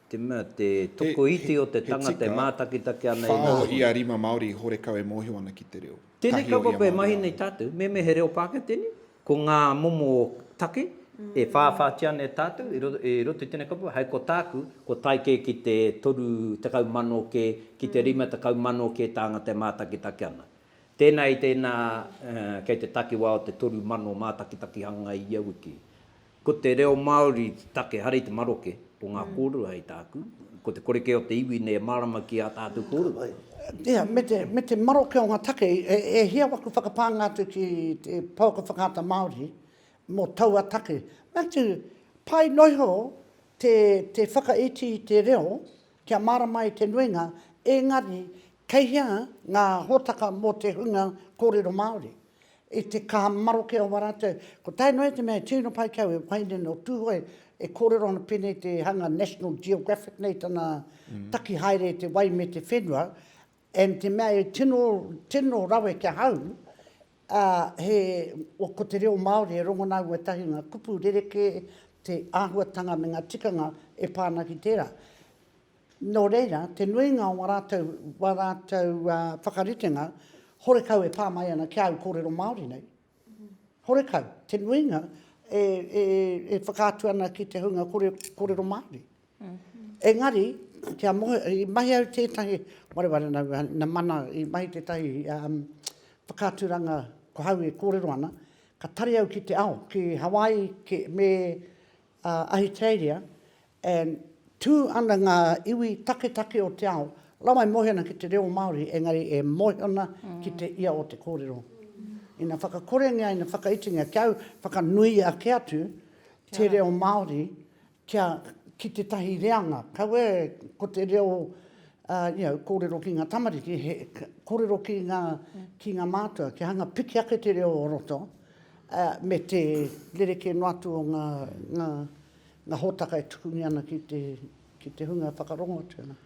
Te mea, te tokoiti o te tangata e mātakitaki ana i ngā hua. He tika, whao ia rima Māori i horekau e mōhio ana ki te reo. Tēnei kaupapa e mahi nei tātou, me mea he reo Pākehā tēnei, ko ngā momo take e whāwhātia ana e tātou i roto i tēnei kaupapa, hei ko tāku, ko tae kē ki te 30,000 kē, ki te 50,000 kē tāngata e mātakitaki ana. Tēnā i tēnā kei te takiwā o te 3,000 mātakitakihanga ia wiki. Ko te reo Māori te take hara i te maroke o ngā kōrua hei tāku, ko te kore kē o te iwi nei e mārama ki ā tātou kōrua. Ia, me te, me te maroke o ngā take, e, e hia waku whakapānga atu ki te pouaka whakaata Māori mō taua take. Me atu, pai noa iho te, te whakaiti i te reo kia mārama i te nuinga, engari kei hea ngā hōtaka mō te hunga kōrero Māori? I te kaha maroke o Waratau, ko tae noa i te mea e tino pai ki au, e whai nei nō Tūhoe, e kōrero ana pēnei te hanga National Geographic nei tana taki haere i te wai me te whenua, and te mea e tino, tino rawe ki ahau, ā, he, ko te reo Māori e rongona au ētahi o ngā kupu rerekē, te āhuatanga me ngā tikanga e pā ana ki tērā. Nō reira, te nuinga o ngā rātou, wā rātou whakaritenga, horekau e pā mai ana ki āu kōrero Māori nei. Horekau, te nuinga e, e, e whakaatu ana ki te hunga kore, kōrero Māori. Engari, kia mohe, i mahi au tētahi, wareware na, na mana, i mahi tētahi um, whakaaturanga ko hau e kōrero ana, ka tari au ki te ao, ki Hawaii, ki, me, a Ahitereiria, and tū ana ngā iwi taketake o te ao, rawa e mohi ana ki te reo Māori, engari e mohi ana ki te ia o te kōrero. Ina whakakorengia, ina whakaitingia, kia whakanui ake atu te reo Māori kia, ki tētahi reanga. Kaua e, ko te reo, you know, kōrero ki ngā tamariki, he kōrero ki ngā, ki ngā mātua, kia hanga piki ake te reo o roto, me te rerekē noa atu o ngā hōtaka e tukungia ana ki te hunga whakarongo atu ana.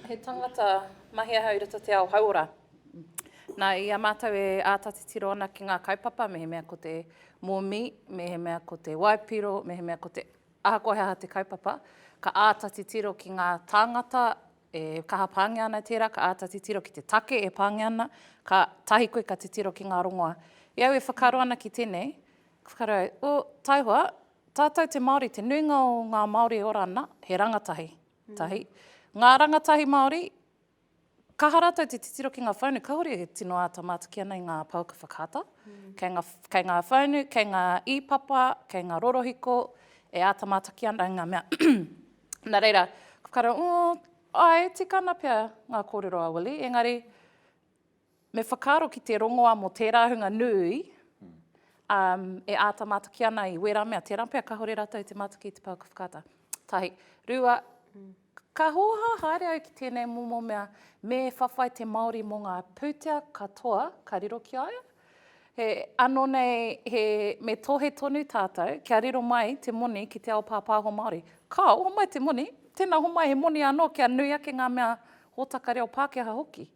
He tangata mahi ahau i roto te ao hauora. Nā, i a mātou e āta titiro ana ki ngā kaupapa, mehemea ko te mōmī, mehemea ko te waipiro, mehemea ko te, ahakoa he aha te kaupapa, ka āta titiro ki ngā tāngata E kaha pāngia ana tērā, ka āta titiro ki te take e pāngia ana, kātahi koe ka titiro ki ngā rongoa. I a au e whakaaro ana ki tēnei, ka whakaaro au, oh, taihoa, tātou te Māori, te nuinga o ngā Māori e ora ana, he rangatahi, tahi. Ngā rangatahi Māori, kaha rātou te titiro ki ngā whaunu, kāore e tino āta mātaki ana i ngā pouaka whakaata. Kei ngā, kei ngā whaunu, kei ngā ī papa, kei ngā rorohiko, e āta mātaki ana i ngā mea, Nā reira, ko Kara, ō, āe, tikana pea ngā kōrero a Willie, engari, me whakaaro ki te rongoa mō tērā hunga nui, um, e āta mātaki ana i wērā mea, tērā pea kāore rātou i te mātaki i te pouaka whakaata. Tahi. Rua, ka hōhā haere au ki tēnei momo mea, me whawhai te Māori mō ngā pūtea katoa ka riro ki a ia, He ano nei he me tohe tonu tatou kia riro mai te moni ki te ao papaho Maori. Kao, homai te moni, tena homai he moni ano kia nui ake nga mea hotaka reo Pakeha hoki.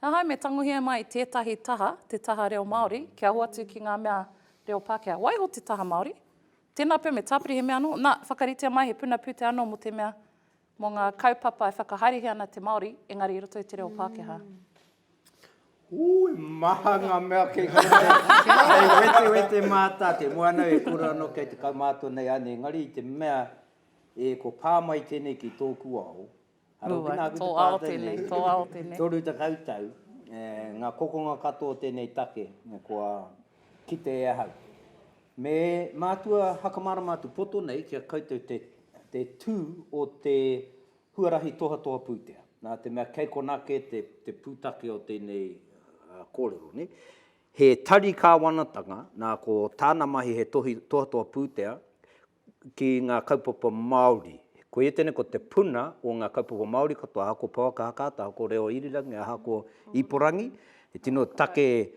Ahau me tangohia mai i tetahi taha, te taha reo Maori, kia hoatu ki nga mea reo Pakeha. Waiho te taha Maori. Tena pea me tapiri he mea ano, na, whakaritea mai he puna pute ano mo te mea Mō ngā kaupapa e whakahaerehe ana te Māori, engari i roto i te reo Pākehā. Ū, e maha ngā mea kei hanga nei. Kei wetewete mātāte. Mō anō e kore anō kei te kaumātua nei āne, engari i te mea e ko pā mai tēnei ki tōku ao, arā ki nāku te pā tēnei, toru tekau tau, ngā kokonga katoa o tēnei take kua kite e ahau. Me mātua hakamārama atu poto nei ki a koutou te te tū o te huarahi tohatoha pūtea, nā te mea kei konā kē te te pūtake o tēnei kōrero, nē. He tari kāwanatanga, nā ko tāna mahi he tohi tohatoha pūtea, ki ngā kaupapa Māori. Koia tēnei ko te puna o ngā kaupapa Māori katoa, aha ko Pouaka Hakaata, aha ko Reo Irirangi, aha ko Iporangi, he tino take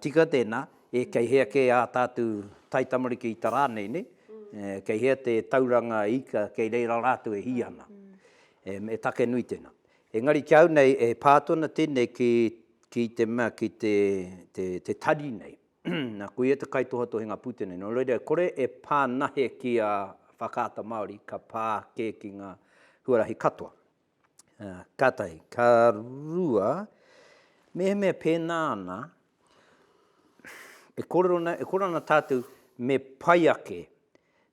tika tēnā, e kei hea kē ā tātou taitamariki ita rānei, nē? Kei hea te tauranga ika kei reira rātou e hī ana. He take nui tēnā. Engari ki au nei e pā atu ana tēnei ki te mea, ki te tari nei. Na, ko ia te kaitohatohinga pūtea nei. No reira, kore e pā nahe ki a Whakaata Māori, ka pā kē ki nga huarahi katoa. Ka tahi. Ka rua, mehemea pēnā ana, e korero ana, e korero ana tātou me pai ake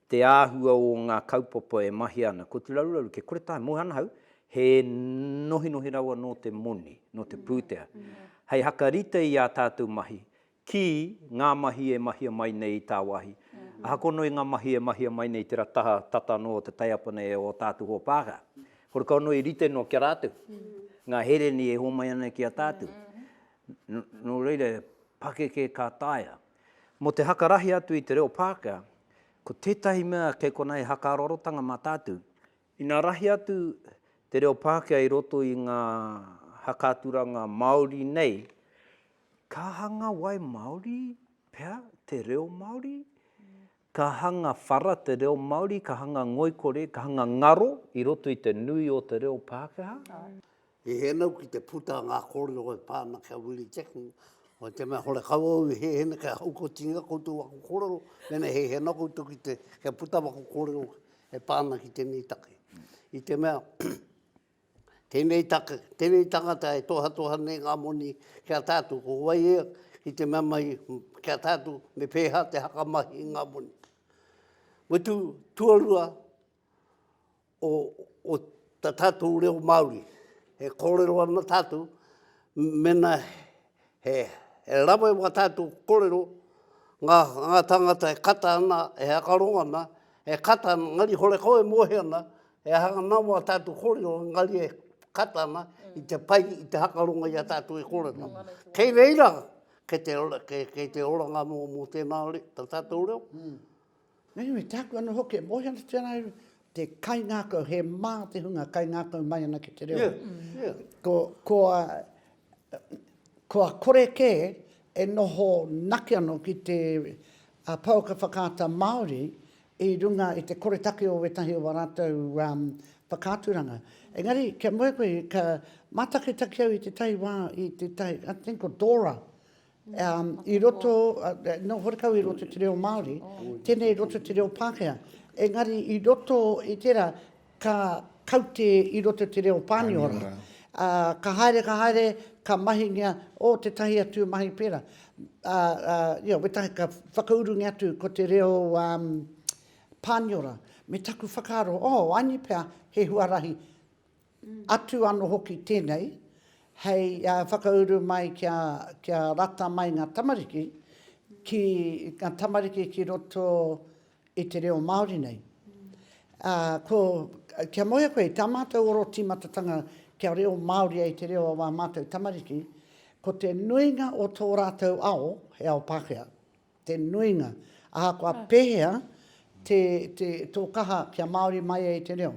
Te āhua o ngā kaupapa e mahi ana, ko tu raruraru ke kore tae, moe ana ahau, he nohinohi rawa nō te moni, nō te pūtea, hei hakarite i ā tātou mahi, ki ngā mahi e mahia mai nei i tāwāhi. Ahakoa anō i ngā mahi e mahia mai nei i tērā taha tata anō o te taiapa nei o ō tātou hoa pākehā, kore kau anō i rite noa ki a rātou, ngā hereni e hōmai ana ki a tātou. Nō reira, pakeke ka taea. Mō te hakarahi atu i te reo Pākehā, ko tētahi mea kei konā he hakaarorotanga mā tātou. Ina rahi atu te reo Pākehā i roto i ngā haka-aturanga Māori nei, ka hanga wai Māori pea te reo Māori? Ka hanga whara te reo Māori, ka hanga ngoikore, ka hanga ngaro i roto i te nui o te reo Pākehā. I hēnau ki te puta a ngā kōrero e pā ana ki a Willie Jackson, hoi te mea hore kau au i hēhena kia haukotingia koutou aku kōrero, mēnā he hēnau koutou ki te, kia puta aku kōrero e pā ana ki tēnei take. I te mea, Tēnei take, tēnei tangata e tohatoha nei ngā moni ki a tātou, ko wai ia ki te mea mai ki a tātou me pēhā te hakamahi i ngā moni. Mutu tuarua o, o tā tātou reo Māori, e kōrero ana tātou, mena He rawe wā tātou korero, ngā tāngata e kata ana, e hakaro ana, e kata ana, engari hore kau e mohi ana, he aha ngā nama a tātou korero, engari e kata ana i te pai, i te hakaronga i a tātou e korero. Kei reira, kei te oranga mō tēnā reo, tā tātou reo. Nui me tāku anō hoki e mohi ana te whanaero, te kaingākau, he mā te hunga kaingākau mai ana ki te reo. Yeah, yeah. Ko, ko, a, ko a kore kē e noho naki anō ki te a, pauka whakaata Māori i runga i te koretake o wētahi o a rātou um, whakaaturanga. Engari, kia moe koe, ka mātakitaki au i te tahi wā, i te tahi, I think ko Dora, Um, i roto, uh, no horekau i roto te reo Māori, tēnei i roto te reo Pākehā. Engari i roto i tērā, ka kaute i roto te reo Pāniora. Uh, ka haere, ka haere, ka mahingia o te tahi atu mahi pērā. Uh, uh, yeah, wetahi ka whakaurungi atu ko te reo um, Pāniora. Me taku whakaaro, oh, aini pea he huarahi Atu ano hoki tenei, hei whakauru mai kia rata mai nga tamariki ki nga tamariki ki roto i te reo Maori nei. Ko, kia mohia koe, ta matou oro timatatanga kia reo Maori ai te reo o a matou tamariki, ko te nuinga o to ratou ao, he ao Pakea, te nuinga. Ahakoa pehea to kaha kia Maori mai ai te reo.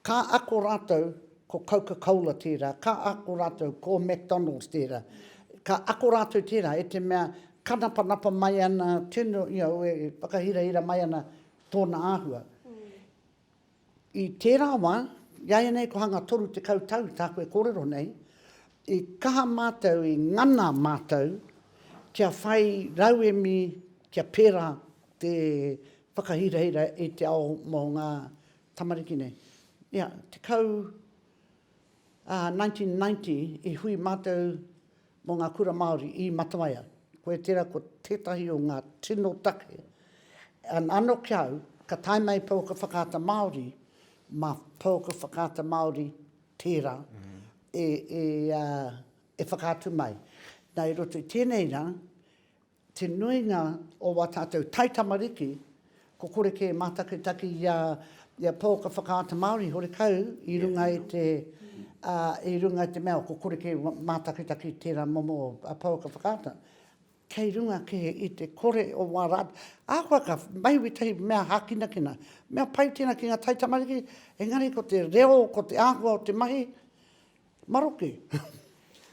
Ka ako rātou ko Coca-Cola tērā, ka ako rātou ko McDonald's tērā, ka ako rātou tērā i te mea kanapanapa mai ana tino, you know, e whakahirahira mai ana tōna āhua. I tērā wā, iāianei kua hanga 30 tau tāku e kōrero nei, i kaha mātou, i ngana mātou kia whai rauemi, kia pērā te whakahirahira i te ao mō ngā Tamariki nei. Ia, tekau, ā, 1990 i hui mātou mō ngā kura Māori i Matawaia. Koia tērā ko tētahi o ngā tino take. An, ano ki au, ka tae mai pouaka whakaata Māori, mā pouaka whakaata Māori tērā e, e, ā, e whakaatu mai. Nā, i roto i tēnei rā, Te nuinga o wā tātou taitamariki, ko kore kē mātakitaki i a Paul ka whakaata Māori horekau i runga i te, i runga i te mea ko kore kē mātakitaki i tērā momo a Paul ka whakaata, kei runga kē i te kore o wā rātou, ahakoa ka mahue tahi mea hākinakina, mea pai tēnā ki ngā taitamariki, engari ko te reo, ko te āhua o te mahi, Maroke.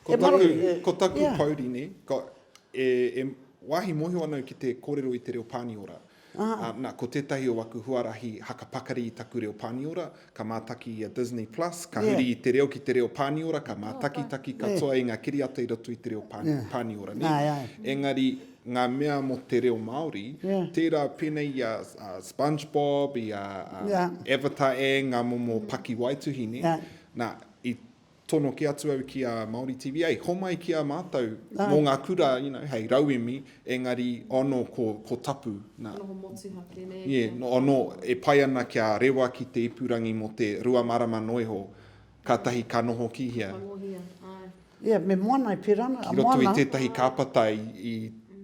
Ko taku, ko taku yeah. pouri ne, ko, e, e wāhi mōhio anau ki te kōrero i te reo Pāniora. Ah. Uh, na, ko tētahi o aku huarahi haka pakari i taku reo Pāniora, ka mātaki i a Disney Plus, ka yeah. huri i te reo ki te reo Pāniora, ka mātaki taki katoa yeah. i ngā kiriata i roto i te reo Pāni, yeah. Pāniora. Ne? Ai, ai. Engari, ngā mea mō te reo Māori, yeah. tērā pēnei i a uh, SpongeBob, i a uh, yeah. Avatar e, ngā momo pakiwaituhi, ne? Yeah. Nā, i tono kē atu au ki a Māori TV, hei, homai ki a mātou mō ngā kura, you know, hei, rauemi, engari, oh no, ko, ko tapu, nā. Noho motuhake, nē? Yeah, oh no, e pai ana kia rewa ki te ipurangi mō te rua marama noa iho, kātahi ka noho ki hea. Ka tangohia, āe. Ia, me moana e pera ana. Ki roto i tētahi kāpata i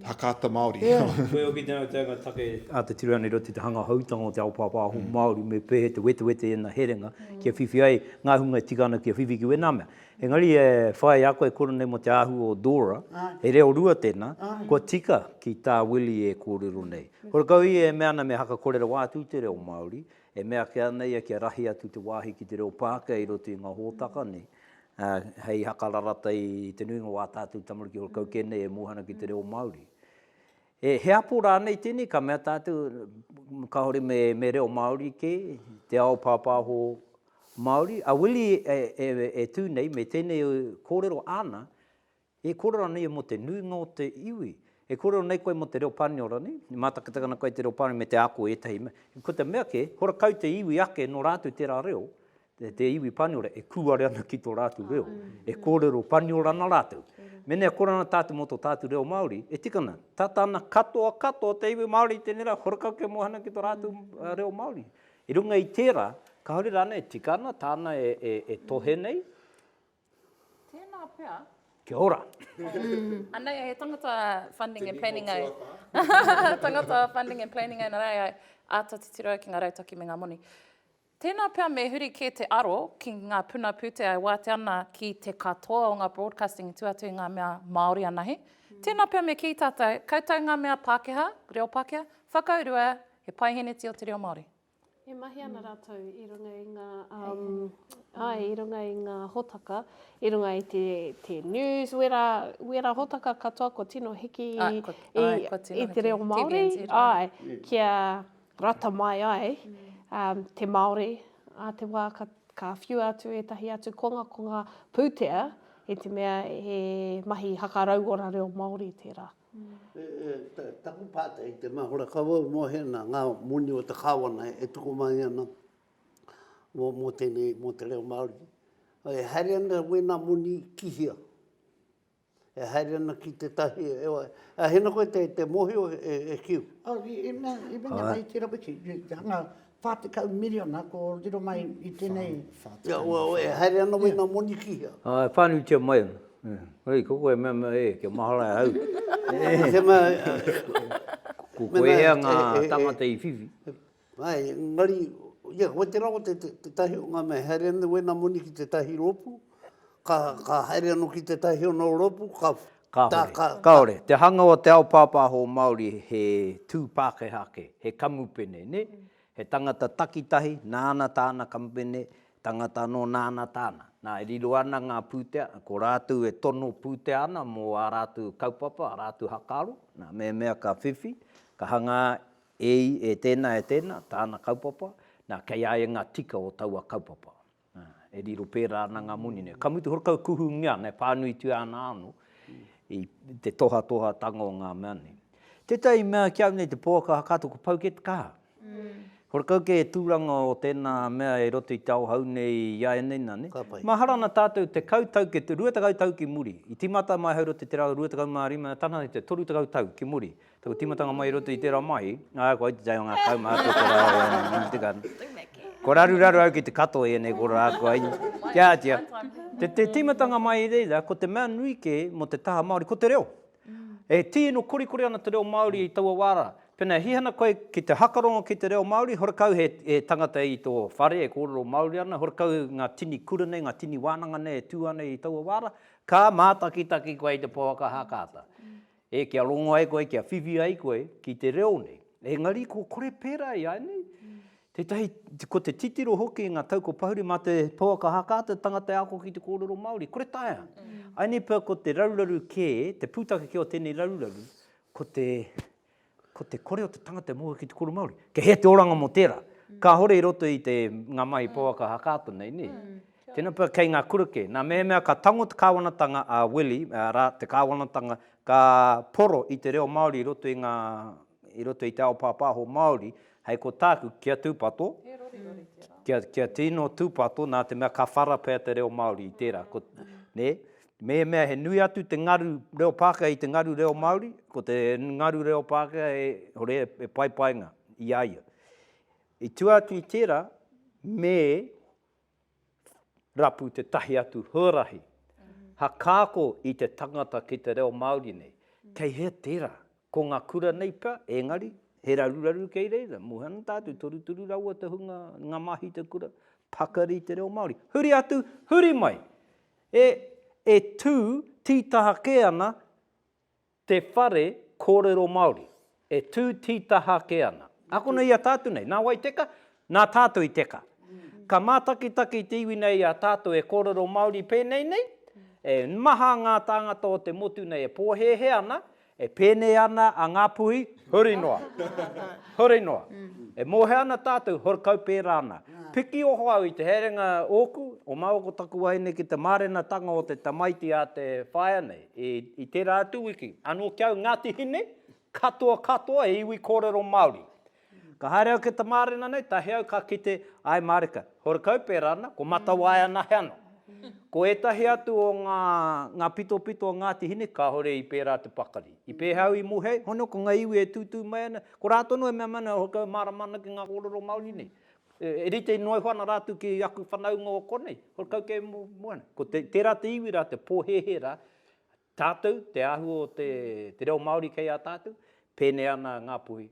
Hakaata Māori. Ia. Koe hoki tēnā te anga take a te tira nei i roto i te hanga hautanga o te ao pāpāho Māori me pēhea te wetewete i ēnā herenga kia whiwhi ai ngā hunga e tika ana ki a whiwhi ki wēnā mea. Engari e whāia a koe e kore nei mō te āhua o Dora, he reo rua tēnā, kua tika ki tā Willie e kōrero nei. Horekau ia e mea ana me haka kore rawa atu i te reo Māori, e mea ake ana ia kia rahi atu te wāhi ki te reo Pākehā i roto i ngā hōtaka nei, hei hakararata i te nuinga o ā tātou tamariki o kau kē nei e mōhana ki te reo Māori. He apo rānei tēnei ka mea tātou kāore me reo Māori kē, te ao pāpāho Māori? A Willie e tū nei me tēnei kōrero āna E kōrero ana ia mō te nuinga o te iwi. E kōrero nei koe mō te reo Pāniora, nē? E mātakitaki ana koe i te reo Pāniora me te ako i ētahi mea. Ko te mea kē, kua kau te iwi ake nō rātou tērā reo, te iwi Pāniora, e kūare ana ki tō rātou reo. E kōrero Pāniora ana rātou. Mēnā e kore ana tātou mō tō tātou reo Māori, e tika ana, tata ana katoa katoa o te iwi Māori i tēnei rā, kua kau kia mōhiohana ki tō rātou reo Māori. I runga i tērā, kāore rānei e tika ana tāna e tohe nei? Tēnā pea. Kia ora. Anei ai he tangata funding and planning ai. tangata funding and planning ai, nā rāi ai āta titiro ai ki ngā rautaki me ngā moni. Tēnā pea me huri kē te aro ki ngā puna pūtea e wātea ana ki te katoa o ngā broadcasting i tū atu i ngā mea Māori anahe. Mm. Tēnā pea me kī tātou, koutou ngā mea Pākehā, reo Pākehā, whakaurua he paiheneti o te reo Māori. E mahi ana mm. rātou i runga i ngā, um, ai, i runga i ngā hotaka, i runga i te, te news, wera, wera hotaka katoa ko tino hiki ah, i, ko, i, ai, ko tino i te reo Māori, ai, yeah. kia rata mai ai mm. um, te Māori, a te wā ka, ka whiua atu ētahi atu konga, konga pūtea, i te mea he mahi hakarauora reo Māori tērā. Mm. Taku pātai i te mahora kawau mō hēnā, ngā moni o te Kāwana e tuku mai ana mō tēnei, mō te reo Māori. E haere ana wēnā moni ki hea? E haere ana ki tētahi, a hēnā koe te mōhio e kiu? Āe, i mea, i mea, i mea, i te rawe ki, i te hanga, Whā tekau miriona ko riro mai i tenei. Whā tekau miriona. Whā tekau miriona. E haere ana wei nga moni ki hea? Ā, e whānutia mai ana. Hei, ko koe e mea mai, e, kia mahara e hau. He mea, ko koe hea nga tangata i whiwhi. Āe, engari, ia, wai te rawa tetahi o nga mea, e haere ana wei nga moni ki tetahi rōpū? Ka, ka haere ano ki te tahi o no ropu, ka... Kahore, ka, ka, kahore. Te hanga o te ao papaho Maori he tu Pakeha ake, he kamupene, ne? Mm. He tangata takitahi, nāna tāna kamupene, tangata anō nāna tāna. Nā, e riro ana ngā pūtea, ko rātou e tono pūtea ana mō ā rātou kaupapa, ā rātou hakaaro, nā, mēmea ka whiwhi, ka hangā e, e tēnā, e tēnā, tāna kaupapa, nā, kei a ia ngā tika o taua kaupapa. E riro pērā ana ngā moni nei. Ka mutu hoki kua kuhungia, pānuitia ana anō i te tohatohatanga o ngā mea nei. Tētahi mea ki au nei, te pouaka katoa ko Phuket ka. Horekau kē he tūranga o tēnā mea i roto i te ao hou nei i āianei nā. Mahara ana tātou tekau tau, rua tekau tau ki muri. I tīmata mai ahau i roto i te rau rua tekau mā rima, e taha ana ki te toru tekau tau ki muri. Taku timatanga mai i roto i tērā mahi, ā, kua iti tahi o ngā kaumātua kua raro au i Ngāti Te Kanawa. Kua raruraru au ki te katoa i ēnei kōrero ā kua iti. Kia āhtia, te timatanga mai i reira, ko te mea nui kē mō te taha Māori, ko te reo. E tīno korikori ana te reo Māori i taua wā rā. Pēnā e hihana koe ki te hakarongo ki te reo Māori, horekau he tangata i tō whare e kōrero Māori ana, horekau ngā tini kura nei, ngā tini wānanga nei e tū ana i taua wā rā, ka mātakitaki koe i te pouaka haka ata. E kia rongo ai koe, kia whiwhi ai koe ki te reo nei. Engari ko kore pērā ianei. Tētahi, ko te titiro hoki i ngā tau ko Pahuri mā te pouaka haka te tangata e ako ki te kōrero Māori. Kore taea. Ainei pea ko te raruraru kē, te pūtake kē o tēnei raruraru, ko te, ko te kore o te tangata e mōhio ki te kōrero Māori. Kei hea te oranga mō tērā. Kāhore i roto i te, ngā mahi pouaka haka atu nei, nē? Tēnā pea kei ngā kura kē. Nā mehemea ka tango te kāwanatanga a Willy, arā, te kāwanatanga ka poro i te reo Māori i roto i ngā, i roto i te ao pāpāho Māori, hei ko tāku, kia tūpato, kia, kia tino tūpato, nā te mea ka whara pea te reo Māori i tērā. Ko, nē, mehemea he nui atu te ngaru reo Pākehā i te ngaru reo Māori, ko te ngaru reo Pākehā e, hore, e paipainga i a ia. I tua atu i tērā, me. rapu tētahi atu huarahi hakaako i te tangata ki te reo Māori nei. Kei hea tērā? Ko ngā kura nei pea, engari, he raruraru kei reira, mō ana tātou, torutoru rawa te hunga, ngā māhita kura, pakari i te reo Māori. Huri atu, huri mai! E, e tū, tītaha kē ana, Te whare kōrero Māori, e tū tītaha ake ana. Akona i a tātou nei, nā wai teka? Nā tātou i teka. Ka mātakitaki te iwi nei i a tātou e kōrero Māori pēnei nei, e maha ngā tāngata o te motu nei e pōhēhē ana, e pēnei ana a Ngāpuhi, huri noa, huri noa. E mōhio ana tātou, huri kau pērā ana. Piki oho au i te herenga ōku, o māua ko taku wahine ki te mārenatanga o te tamaiti a te whaea nei. I, i tērā atu wiki, anō ki au Ngāti Hine, katoa katoa he iwi kōrero Māori. Ka haere au ki te mārena nei, tahi au ka kite, ae mārika, horekau pērā ana, ko Matawae anahe anō. Ko ētahi atu o ngā, ngā pitopito o Ngāti Hine, kāore i pērā te pakari. I pēhea au i mohe ai? Hono, ko ngā iwi e tūtū mai ana, ko rātou anō e mea mai ana, horekau e mārama ana ki ngā kōrero Māori nei. E rite noa iho ana rātou ki aku whanaunga o konei, ko kau kē mua nei. Ko te, tērā te iwi rā, te pōhēhē rā, tātou, te āhua o te, te reo Māori kei a tātou, pēnei ana a Ngāpuhi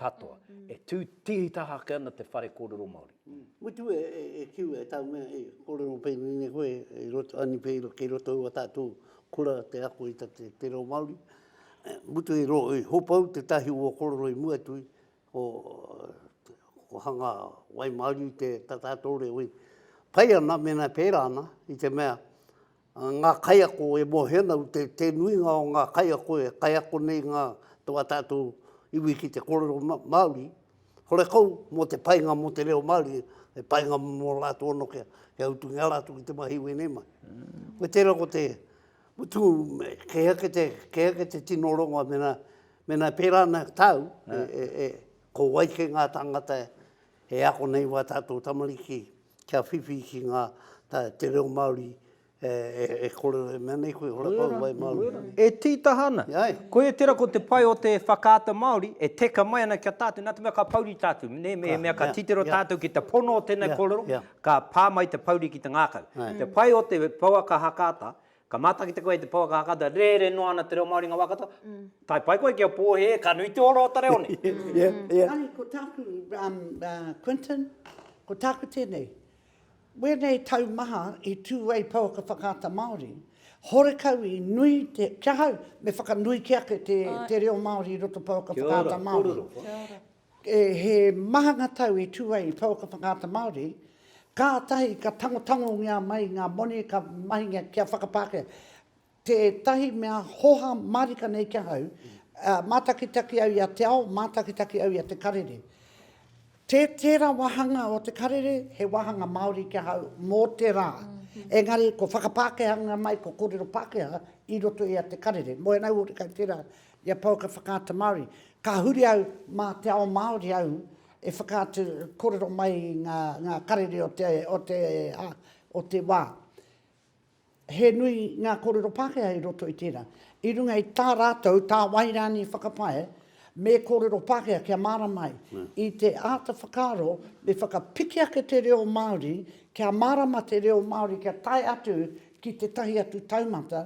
katoa. E tū tītaha ake ana te whare kōrero Māori. Mutu e, e, e kiu e tāu mea, e kōrero pēnei nei koe, i roto, ani pē, kei roto ua tātou kura te ako i te, te reo Māori. Mutu i ro, i hopau te tahi ua kōrero i mua tui, Ko ko hanga wai maru te tata ato re ui. Pai ana mena pera ana i te mea nga kai ako e mo he ana te te nui nga o nga kai ako e kai ako nei nga to a tatu iwi ki te korero maori. Hore kau mo te pai nga mo te reo maori e pai nga mo la to no ke he utu nga la tu i te mahi we nei mai. Ko te ra ko te utu me ke ake te ke ake te tino rongo mena Mēnā e pērā ana tāu, ko wai kē ngā tāngata e ako nei wā tātou tamariki kia whiwhi ki ngā, te reo Māori e kōrero, e mea nei koe, hora kau, wai Māori. E tītaha ana. Koia tērā ko te pai o te whakaata Māori e teka mai ana ki a tātou, nā te mea ka pouri tātou, nē, me he mea ka titiro tātou ki te pono o tēnei kōrero, ka pā mai te pouri ki te ngākau. Te pai o te pouaka hakaata, Ka mātakitaki koe i te pouaka a katoa, rere noa ana te reo Māori i ngā wā katoa, tae pai koe ki a Pōhē, ka nui te ora o ta reo nei. Yeah, yeah. Engari ko tāku, um, uh, Quinton, ko tāku tēnei, wēnei tau maha i tū ai pouaka whakaata Māori, horekau i nui te, ki ahau, me whakanui ke ake te, te reo Māori i roto pouaka whakaata Māori. Kia ora, kōrero, kōrero. He maha ngā tau e tū ai i pouaka whakaata Māori, kātahi ka tangotangongia mai ngā moni ka mahingia kia whakapākehā. Tētahi mea hoha mārika nei ki ahau, mātakitaki au i a Te Ao, mātakitaki au i a Te Karere. Tē tērā wāhanga o Te Karere he wāhanga Māori ki ahau mō te rā, engari ko whakapākehanga mai ko kōrero Pākehā i roto i a Te Karere. Moe ana au hoki kei tērā I a Pouaka Whakaata Māori, ka huri au mā te ao Māori au e whakaatu kōrero mai i ngā karere o te wā. He nui ngā kōrero Pākehā i roto i tērā. I runga i tā rātou, tā wai rānei whakapae, me kōrero Pākehā kia mārama ai. I te āta whakaaro, me whakapiki ake te reo Māori, kia mārama te reo Māori kia tae atu ki tētahi atu taumata,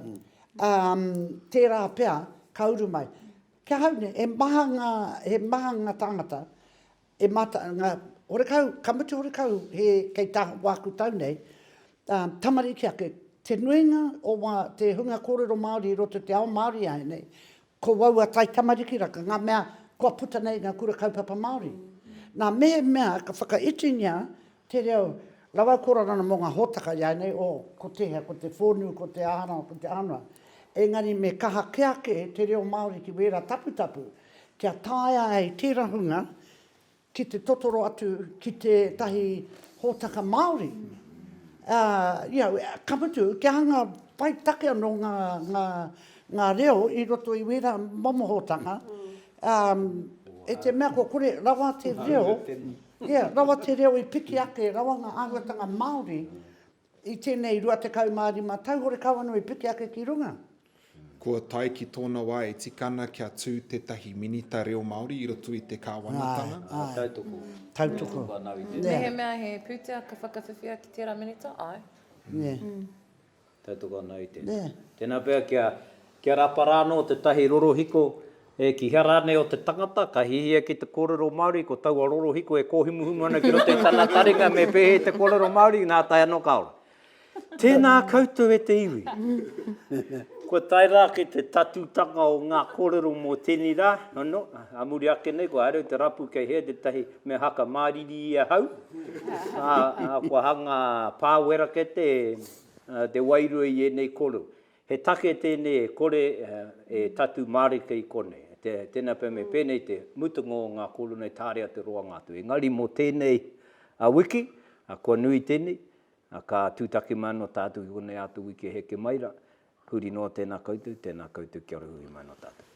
Um, tērā pea, ka uru mai. Ki ahau nei, he maha ngā, he maha ngā tāngata, e mata, ngā horekau, ka mutu horekau he kei tā wāku tau nei, um, tamariki ake, te nuinga o wā, te hunga kōrero Māori i roto te ao Māori ai nei, Ko aua taitamariki rā, ka ngā mea kua puta nei i ngā kura kaupapa Māori. Nā, mehemea ka whakaitingia te reo rawa kororana mō ngā hōtaka iāianei, o, ko tēhea, ko te whōnū, ko te āharawa, ko te ānua, engari me kaha kē ake te reo Māori ki wērā taputapu kia taea ai tērā hunga ki te totoro atu ki tētahi hōtaka Māori, ā, you know, ka mutu, kia hanga pai take anō ngā, ngā, ngā reo i roto i wērā momo hōtaka, ā, e te mea kua kore rawa te reo, yeah, rawa te reo i piki ake, rawa ngā āhuatanga Māori I tēnei 25 tau horekau anō i piki ake ki runga. Kua tae ki tōna wā e tika ana kia tū tētahi Minita Reo Māori i roto i te kāwanatanga. Āe, āe. Tautoko. Tautoko. Mehemea he pūtea ka whakawhiwhia ki tērā Minita, āe. Tautoko anō i tēnā. Tēnā pea kia Kia rapa rānō tētahi rorohiko e kīhea rānei o te tangata, ka hihia ki te kōrero Māori, ko taua rorohiko e kōhumuhumu ana ki roto i tana taringa me pēhea te kōrero Māori, nā tae anō ka ora. Tēnā koutou e te iwi. Kua tae rā ki te tatūtanga o ngā kōrero mō tēnei rā anō, ā muri ake nei kua haere au te rapu kei hea tētahi mea haka māriri i ahau, ā, kua hanga pāwera kē te wairua i ēnei kōrero. He take tēnei e kore e tatū mārika i konei. Tēnā pea me pēnei te mutunga o ngā kōrero nei tāre atu roanga atu. Engari mō tēnei wiki, kua nui tēnei, ka tūtaki mai anō tātou ki konei ātou wiki e heke mai rā. Huri noa tēnā koutou, tēnā koutou kia ora huri mai anō tātou.